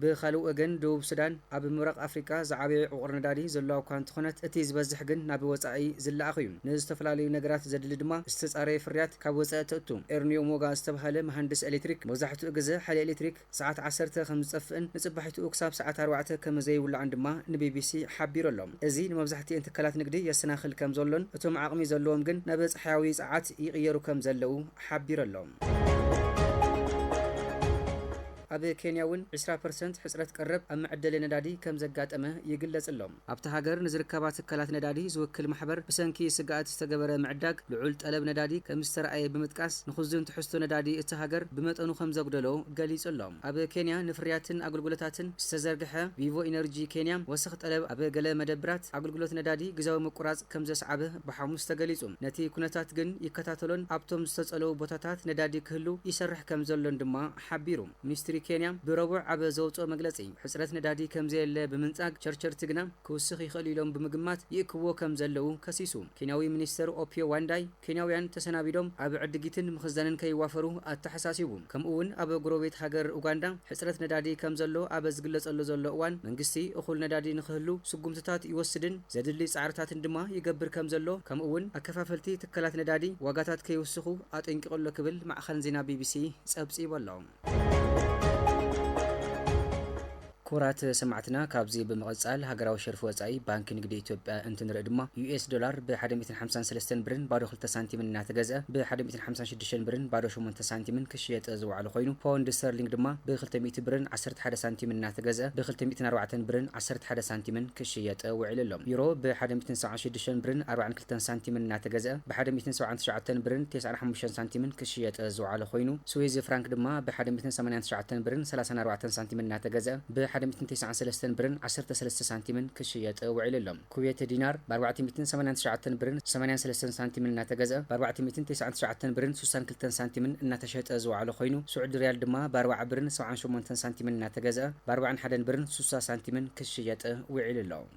C: ብኻልእ ወገን ደቡብ ሱዳን ኣብ ምብራቕ ኣፍሪቃ ዝዓበየ ዕቑር ነዳዲ ዘለዋ እኳ እንተኾነት እቲ ዝበዝሕ ግን ናብ ወጻኢ ዝለኣኽ እዩ። ንዝተፈላለዩ ነገራት ዘድሊ ድማ ዝተጻረየ ፍርያት ካብ ወጻኢ ተእቱ። ኤርንዮ ሞጋ ዝተብሃለ መሃንድስ ኤሌክትሪክ መብዛሕትኡ ግዘ ሓይሊ ኤሌክትሪክ ሰዓት ዓሰርተ ከምዝጠፍእን ንጽባሒትኡ ክሳብ ሰዓት ኣርባዕተ ከመዘይውላዕን ድማ ንቢቢሲ ሓቢሩ ኣሎ። እዚ ንመብዛሕቲኤን ትካላት ንግዲ የሰናኽል ከምዘሎን እቶም ዓቕሚ ዘለዎም ግን ናብ ጸሓያዊ ጸዓት ይቕየሩ ከምዘለው ሓቢሩ ኣሎ። ኣብ ኬንያ እውን ዕስራ ፐርሰንት ሕፅረት ቀረብ ኣብ መዐደሊ ነዳዲ ከም ዘጋጠመ ይግለፅ'ሎ። ኣብታ ሃገር ንዝርከባ ትካላት ነዳዲ ዝውክል ማሕበር ብሰንኪ ስግኣት ዝተገበረ ምዕዳግ ልዑል ጠለብ ነዳዲ ከም ዝተርኣየ ብምጥቃስ ንኽዙን ትሕዝቶ ነዳዲ እታ ሃገር ብመጠኑ ከም ዘጉደሎ ገሊፁ'ሎ። ኣብ ኬንያ ንፍርያትን ኣገልግሎታትን ዝተዘርግሐ ቪቮ ኢነርጂ ኬንያ ወሰኽ ጠለብ ኣብ ገለ መደብራት ኣገልግሎት ነዳዲ ግዝያዊ ምቁራፅ ከም ዘስዓበ ብሓሙስ ተገሊፁ። ነቲ ኩነታት ግን ይከታተሎን ኣብቶም ዝተፀለዉ ቦታታት ነዳዲ ክህሉ ይሰርሕ ከም ዘሎን ድማ ሓቢሩ። ሚኒስትሪ ኬንያ ብረቡዕ ኣብ ዘውጽኦ መግለጺ፣ ሕጽረት ነዳዲ ከምዘየለ ብምንጻግ፣ ቸርቸርቲ ግና ክውስኽ ይኽእል'ዩ ኢሎም ብምግማት ይእክብዎ ከምዘለዉ ከሲሱ። ኬንያዊ ሚኒስተር ኦፒዮ ዋንዳይ፣ ኬንያውያን ተሰናቢዶም ኣብ ዕድጊትን ምኽዛንን ከይዋፈሩ ኣተሓሳሲቡ። ከምኡ'ውን ኣብ ጎረቤት ሃገር ኡጋንዳ ሕጽረት ነዳዲ ከምዘሎ ኣብ ዝግለጸሉ ዘሎ እዋን፣ መንግስቲ እኹል ነዳዲ ንኽህሉ ስጉምትታት ይወስድን ዘድሊ ጻዕርታትን ድማ ይገብር ከምዘሎ፣ ከምኡ'ውን ኣከፋፈልቲ ትካላት ነዳዲ ዋጋታት ከይውስኹ ኣጠንቂቑ'ሎ ክብል ማዕኸን ዜና ቢቢሲ ጸብጺቡ ኣሎ። ክቡራት ሰማዕትና ካብዚ ብምቕጻል ሃገራዊ ሸርፊ ወጻኢ ባንኪ ንግዲ ኢትዮጵያ እንትንርኢ ድማ ዩኤስ ዶላር ብ ሓደ ሚእትን ሓምሳን ሰለስተን ብርን ባዶ ክልተ ሳንቲምን እናተገዝኣ ብ ሓደ ሚእትን ሓምሳን ሽዱሽተን ብርን ባዶ ሸሞንተ ሳንቲምን ክሽየጥ ዝወዓሉ ኮይኑ ፖውንድ ስተርሊንግ ድማ ብ ክልተ ሚእቲ ብርን ዓሰርተ ሓደ ሳንቲምን እናተገዝኣ ብ ክልተ ሚእትን ኣርባዕተን ብርን ዓሰርተ ሓደ ሳንቲምን ክሽየጥ ውዒሉ ኣሎ። ዩሮ ብ ሓደ ሚእትን ሰብዓን ሽዱሽተን ብርን ኣርባዓን ክልተን ሳንቲምን እናተገዝኣ ብ ሓደ ሚእትን ሰብዓን ትሽዓተን ብርን ቴስዓን ሓሙሽተን ሳንቲምን ክሽየጥ ዝወዓለ ኮይኑ፣ ስዊዝ ፍራንክ ድማ ብ ሓደ ሚእትን ሰማንያን ትሽዓተን ብርን ሰላሳን ኣርባዕተን ሳንቲምን እናተገዝኣ ብ ሓደ ሚእትን ቴስዓን ሰለስተን ብርን ዓሰርተ ሰለስተ ሳንቲምን ክሽየጥ ውዒሉ ኣሎ። ኩዌት ዲናር ብ ኣርባዕተ ሚእትን ሰማንያን ትሽዓተን ብርን ሰማንያን ሰለስተን ሳንቲምን እናተገዝኣ ብ ኣርባዕተ ሚእትን ቴስዓን ትሽዓተን ብርን ስሳን ክልተን ሳንቲምን እናተሸጠ ዝወዓለ ኮይኑ፣ ስዑዲ ሪያል ድማ ብ ኣርባዓ ብርን ሰብዓን ሸሞንተን ሳንቲምን እናተገዝኣ ብ ኣርባዓን ሓደን ብርን ስሳ ሳንቲምን ክሽየጥ ውዒሉ ኣሎ።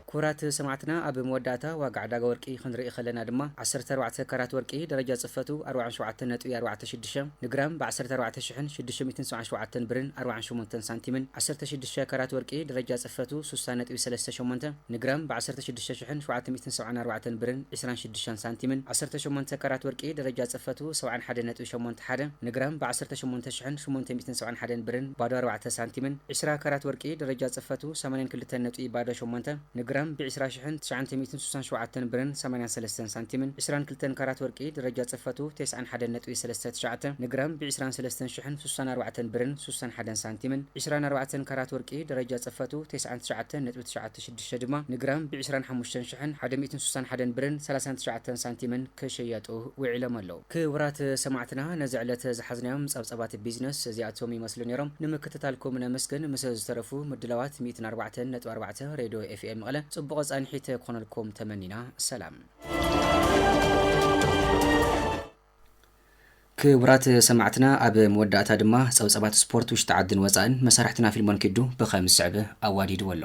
C: ክቡራት ሰማዕትና ኣብ መወዳእታ ዋጋ ዕዳጋ ወርቂ ክንርኢ ከለና ድማ ዓሰርተ ኣርባዕተ ካራት ወርቂ ደረጃ ጽፈቱ ኣርብዓን ሸውዓተን ነጥቢ ኣርባዕተ ሽዱሽተ ንግራም ብ ዓሰርተ ኣርባዕተ ሽሕን ሽዱሽተ ሚእትን ሰብዓን ሸውዓተን ብርን ኣርብዓን ሸሞንተን ሳንቲምን ዓሰርተ ሽዱሽተ ካራት ወርቂ ደረጃ ጽፈቱ ስሳ ነጥቢ ሰለስተ ሸሞንተ ንግራም ብ ዓሰርተ ሽዱሽተ ሽሕን ሸውዓተ ሚእትን ሰብዓን ኣርባዕተን ብርን ዒስራን ሽዱሽተን ሳንቲምን፣ ዓሰርተ ሸሞንተ ካራት ወርቂ ደረጃ ጽፈቱ ሰብዓን ሓደን ነጥቢ ሸሞንተ ሓደ፣ ንግራም ብ ዓሰርተ ሸሞንተ ሽሕን ሸሞንተ ሚእትን ሰብዓን ሓደን ብርን ባዶ ኣርባዕተ ሳንቲምን፣ ዒስራ ካራት ወርቂ ደረጃ ጽፈቱ ሰማንያን ክልተን ነጥቢ ባዶ ሸሞንተ፣ ንግራም ብ ዒስራ ሽሕን ትሽዓንተ ሚእትን ሱሳን ሸውዓተን ብርን ሰማንያን ሰለስተን ሳንቲምን፣ ዒስራን ክልተን ካራት ወርቂ ደረጃ ጽፈቱ ቴስዓን ሓደን ነጥቢ ሰለስተ ትሽዓተ፣ ንግራም ብ ዒስራን ሰለስተን ሽሕን ሱሳን ኣርባዕተን ብርን ሱሳን ሓደን ሳንቲምን፣ ዒስራን ኣርባዕተን ካራት ወርቂ ደረጃ ጽፈቱ ቴስዓን ትሽዓተን ነጥቢ ትሽዓተ ሽዱሽተ ድማ ንግራም ብ ዕስራን ሓሙሽተን ሽሕን ሓደ ሚእትን ሱሳን ሓደን ብርን ሰላሳን ትሽዓተን ሳንቲምን ክሽየጡ ውዒሎም ኣለው። ክቡራት ሰማዕትና ነዚ ዕለት ዝሓዝናዮም ጸብጻባት ቢዝነስ እዚኣቶም ይመስሉ ኔሮም። ንምክትታልኩም ነመስግን። ምስ ዝተረፉ ምድላዋት ሚእትን ኣርባዕተን ነጥቢ ኣርባዕተ ሬድዮ ኤፍኤም መቐለ ጽቡቐ ጻንሒት ክኾነልኩም ተመኒና። ሰላም። ክቡራት ሰማዕትና ኣብ መወዳእታ ድማ ጸብጸባት ስፖርት ውሽጢ ዓድን ወጻእን መሳርሕትና ፊልሞን ኪዱ ብኸም ዝስዕብ ኣዋዲድዎ ኣሎ።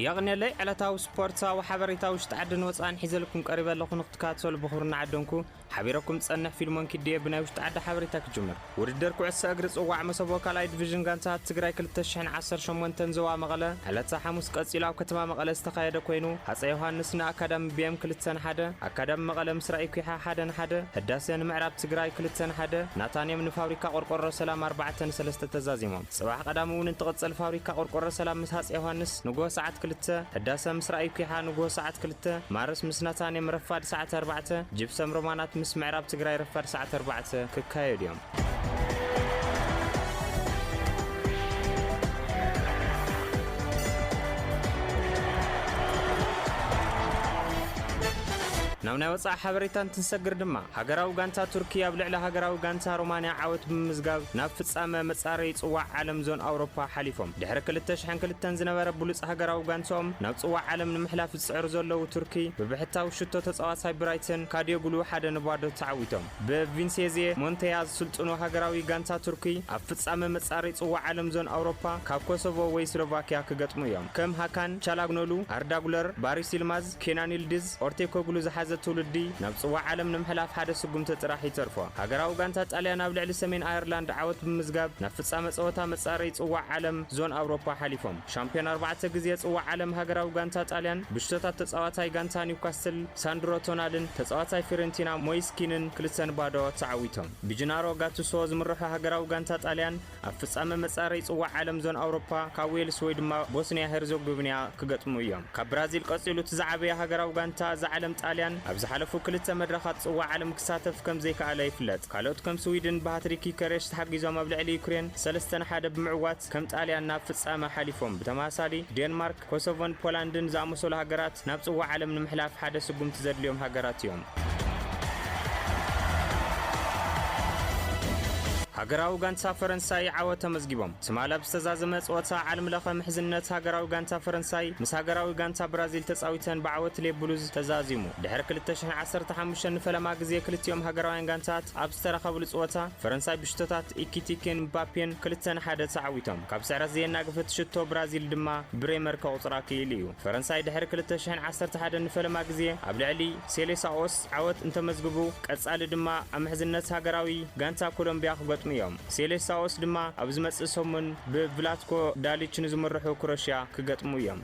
O: የቕኔለይ ዕለታዊ ስፖርትሳዊ ሓበሬታ ውሽጢ ዓድን ወጻእን ሒዘልኩም ቀሪበ ኣለኹ ንክትከታተሉ ብኽብሪ እናዓደምኩ፣ ሓቢረኩም ዝጸንሕ ፊልሞን ኪዱ'የ ብናይ ውሽጢ ዓዲ ሓበሬታ ክጅምር። ውድድር ኩዕሶ እግሪ ጽዋዕ መሰቦ ካልኣይ ዲቪዥን ጋንታታት ትግራይ ክልተ ሽሕን ዓሰርተ ሸሞንተን ዞባ መቐለ ዕለተ ሓሙስ ቀጺሉ ኣብ ከተማ መቐለ ዝተኻየደ ኮይኑ ሃጸይ ዮሃንስ ን ኣካዳሚ ቢኤም ክልተ ን ሓደ፣ ኣካዳሚ መቐለ ምስ ራኢ ኲሓ ሓደ ን ሓደ፣ ህዳሰ ን ምዕራብ ትግራይ ክልተ ን ሓደ፣ ናታንየም ንፋብሪካ ቆርቆሮ ሰላም ኣርባዕተ ን ሰለስተ ተዛዚሞም። ጽባሕ ቀዳም እውን እንትቕጽል ፋብሪካ ቆርቆሮ ሰላም ምስ ሃጽይ ዮሃንስ ንግሆ ሰዓት ክልተ፣ ህዳሰ ምስ ራእይ ኲሓ ንግሆ ሰዓት ክልተ፣ ማርስ ምስ ነታኔም ረፋድ ሰዓት ኣርባዕተ፣ ጅፕሰም ሮማናት ምስ ምዕራብ ትግራይ ረፋድ ሰዓት ኣርባዕተ ክካየዱ እዮም። ናብ ናይ ወጻኢ ሓበሬታ እንትንሰግር ድማ፣ ሃገራዊ ጋንታ ቱርኪ ኣብ ልዕሊ ሃገራዊ ጋንታ ሮማንያ ዓወት ብምምዝጋብ ናብ ፍጻመ መጻረዪ ጽዋዕ ዓለም ዞን ኣውሮፓ ሓሊፎም። ድሕሪ ክልተ ሽሕን ክልተን ዝነበረ ብሉጽ ሃገራዊ ጋንትኦም ናብ ጽዋዕ ዓለም ንምሕላፍ ዝጽዕሩ ዘለዉ ቱርኪ ብብሕታዊ ሽቶ ተጻዋታይ ብራይተን ካድዮግሉ ሓደ ን ባዶ ተዓዊቶም። ብ ቪንሴዜ ሞንተያ ዝስልጥኑ ሃገራዊ ጋንታ ቱርኪ ኣብ ፍጻመ መጻረዪ ጽዋዕ ዓለም ዞን ኣውሮፓ ካብ ኮሶቮ ወይ ስሎቫክያ ክገጥሙ እዮም። ከም ሃካን ቻላግኖሉ፣ ኣርዳ ጉለር፣ ባሪስ ይልማዝ፣ ኬናን ይልድዝ ኦርቴኮግሉ ዝሓዘ ትውልዲ ናብ ጽዋዕ ዓለም ንምሕላፍ ሓደ ስጉምቲ ጥራሕ ይተርፎ። ሃገራዊ ጋንታ ጣልያን ኣብ ልዕሊ ሰሜን ኣየርላንድ ዓወት ብምዝጋብ ናብ ፍጻመ ጸወታ መጻረዪ ጽዋዕ ዓለም ዞን ኣውሮፓ ሓሊፎም። ሻምፕዮን ኣርባዕተ ግዜ ጽዋዕ ዓለም ሃገራዊ ጋንታ ጣልያን ብሽቶታት ተጻዋታይ ጋንታ ኒውካስትል ሳንድሮ ቶናልን ተጻዋታይ ፊዮረንቲና ሞይስ ኪንን ክልተ ን ባዶ ተዓዊቶም። ብጅናሮ ጋቱሶ ዝምርሖ ሃገራዊ ጋንታ ጣልያን፣ ኣብ ፍጻመ መጻረይ ጽዋዕ ዓለም ዞን ኣውሮፓ ካብ ዌልስ ወይ ድማ ቦስንያ ሄርዞግብንያ ክገጥሙ እዮም። ካብ ብራዚል ቀጺሉ እቲ ዝዓበየ ሃገራዊ ጋንታ እዛ ዓለም ጣልያን ኣብ ዝሓለፉ ክልተ መድረኻት ጽዋዕ ዓለም ክሳተፍ ከም ዘይከኣለ ይፍለጥ። ካልኦት ከም ስዊድን ብሃትሪክ ዩከሬሽ ተሓጊዞም ኣብ ልዕሊ ዩክሬን ሰለስተ ን ሓደ ብምዕዋት ከም ጣልያን ናብ ፍጻመ ሓሊፎም። ብተመሳሳሊ ዴንማርክ፣ ኮሶቮን ፖላንድን ዝኣመሰሉ ሃገራት ናብ ጽዋዕ ዓለም ንምሕላፍ ሓደ ስጉምቲ ዘድልዮም ሃገራት እዮም። ሃገራዊ ጋንታ ፈረንሳይ ዓወት ተመዝጊቦም። ትማል ኣብ ዝተዛዘመ ጸወታ ዓለም ለኸ ምሕዝነት ሃገራዊ ጋንታ ፈረንሳይ ምስ ሃገራዊ ጋንታ ብራዚል ተጻዊተን ብዓወት ሌ ብሉዝ ተዛዚሙ። ድሕሪ ክልተ ሽሕን ዓሰርተ ሓሙሽተን ንፈለማ ግዜ ክልቲኦም ሃገራውያን ጋንታት ኣብ ዝተራኸብሉ ጸወታ ፈረንሳይ ብሽቶታት ኢኪቲኬን ምባፔን ክልተ ን ሓደ ተዓዊቶም። ካብ ስዕረት ዘየናግፍት ሽቶ ብራዚል ድማ ብሬመር ከቑጽር ኣክኢሉ እዩ። ፈረንሳይ ድሕሪ ክልተ ሽሕን ዓሰርተ ሓደን ንፈለማ ግዜ ኣብ ልዕሊ ሴሌሳኦስ ዓወት እንተመዝግቡ፣ ቀጻሊ ድማ ኣብ ምሕዝነት ሃገራዊ ጋንታ ኮሎምብያ ክገጥሙ እዮም። ሴሌሳኦስ ድማ ኣብ ዝመጽእ ሰሙን ብቭላትኮ ዳሊች ንዝምርሑ ክሮሽያ ክገጥሙ እዮም።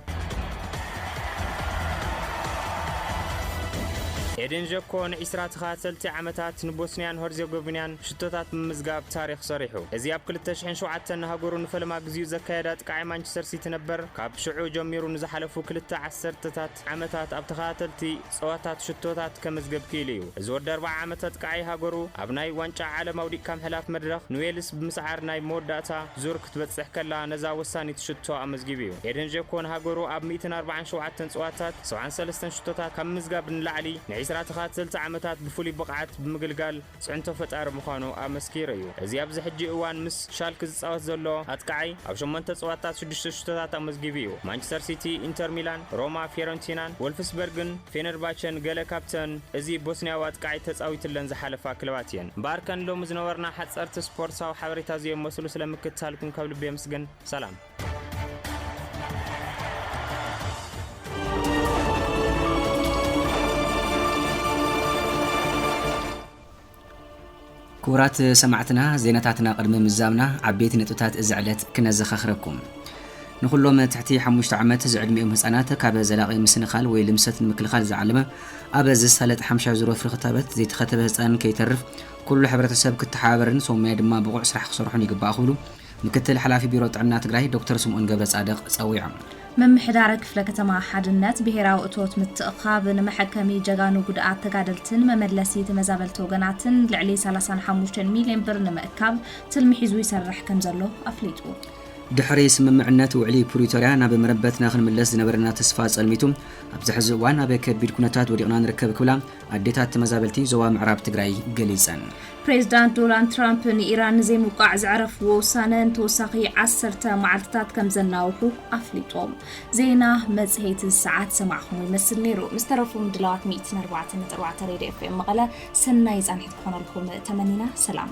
O: ኤደን ዠኮ ንዒስራ ተኸታተልቲ ዓመታት ንቦስንያን ሀርዜጎቪንያን ሽቶታት ብምምዝጋብ ታሪኽ ሰሪሑ። እዚ ኣብ ክልተ ሽሕን ሸውዓተን ንሃገሩ ንፈለማ ግዜኡ ዘካየደ ኣጥቃዓይ ማንቸስተር ሲቲ ነበር፣ ካብ ሽዑ ጀሚሩ ንዝሓለፉ ክልተ ዓሰርተታት ዓመታት ኣብ ተኸታተልቲ ጸወታት ሽቶታት ከመዝገብ ክኢሉ እዩ። እዚ ወዲ ኣርብዓ ዓመት ኣጥቃዓይ ሃገሩ ኣብ ናይ ዋንጫ ዓለም ኣውዲቕካ ምሕላፍ መድረኽ ንዌልስ ብምስዓር ናይ መወዳእታ ዙር ክትበጽሕ ከላ ነዛ ወሳኒት ሽቶ ኣመዝጊቡ እዩ። ኤደን ዠኮ ንሃገሩ ኣብ ሚእትን ኣርብዓን ሸውዓተን ጸወታት ሰውዓን ሰለስተን ሽቶታት ካብ ምምዝጋብ ንላዕሊ ንዒስራ ተኸታተልቲ ዓመታት ብፍሉይ ብቕዓት ብምግልጋል ፅዕንቶ ፈጣሪ ምዃኑ ኣመስኪሩ እዩ። እዚ ኣብዚ ሕጂ እዋን ምስ ሻልክ ዝፃወት ዘሎ ኣጥቃዓይ ኣብ ሸሞንተ ፀዋታት ሽዱሽተ ሽቶታት ኣመዝጊቡ እዩ። ማንቸስተር ሲቲ፣ ኢንተር ሚላን፣ ሮማ፣ ፊዮረንቲናን ወልፍስበርግን ፌነርባቸን ገለ ካብተን እዚ ቦስንያዊ ኣጥቃዓይ ተፃዊትለን ዝሓለፋ ክለባት እየን። እምበኣር ከን ሎሚ ዝነበሩና ሓፀርቲ ስፖርትሳዊ ሓበሬታ እዚኦም መስሉ ስለምክትታልኩም ካብ ልቢ የምስግን። ሰላም!
C: ክቡራት ሰማዕትና ዜናታትና ቅድሚ ምዛምና ዓበይቲ ነጥብታት እዚ ዕለት ክነዘኻኽረኩም ንኩሎም ትሕቲ ሓሙሽተ ዓመት ዝዕድሚኦም ህፃናት ካብ ዘላቒ ምስንኻል ወይ ልምሰት ንምክልኻል ዝዓለመ ኣብ ዝሳለጥ ሓምሻ ዙሮ ፍሪ ክታበት ዘይተኸተበ ህፃን ከይተርፍ ኩሉ ሕብረተሰብ ክተሓባበርን ሰሙያ ድማ ብቑዕ ስራሕ ክሰርሑን ይግባእ ክብሉ ምክትል ሓላፊ ቢሮ ጥዕና ትግራይ ዶክተር ስምኦን ገብረፃድቕ ፀዊዖም። ምምሕዳር ክፍለ
D: ከተማ ሓድነት ብሄራዊ እቶት ምትእኽኻብ ንመሐከሚ ጀጋኑ ጉድኣት ተጋደልትን መመለሲ ተመዛበልቲ ወገናትን ልዕሊ ሰላሳን ሓሙሽተን ሚልዮን ብር ንምእካብ ትልሚ ሒዙ ይሰርሕ ከምዘሎ ኣፍሊጡ። ድሕሪ
C: ስምምዕነት ውዕሊ ፕሪቶርያ ናብ መረበትና ክንምለስ ዝነበረና ተስፋ ፀልሚቱ ኣብዚ ሕዚ እዋን ኣብ ከቢድ ኩነታት ወዲቕና ንርከብ ክብላ ኣዴታት ተመዛበልቲ ዞባ ምዕራብ ትግራይ ገሊፀን። ፕሬዚዳንት
D: ዶናልድ ትራምፕ ንኢራን ንዘይምውቃዕ ዘዕረፍዎ ውሳነ ንተወሳኺ ዓሰርተ መዓልትታት ከም ዘናውሑ ኣፍሊጦም። ዜና መፅሄት ሰዓት ሰማዕኹሞ ይመስል ነይሩ። ምስ ተረፉ ምድላዋት ሚእትን ኣርባዕተን ነጥቢ ኣርባዕተ ሬድዮ ኤፍኤም መቐለ ሰናይ ፃንሒት ክኾነልኩም ተመኒና ሰላም።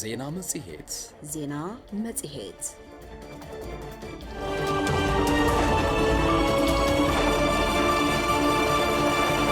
P: ዜና መጽሔት
A: ዜና
P: መጽሔት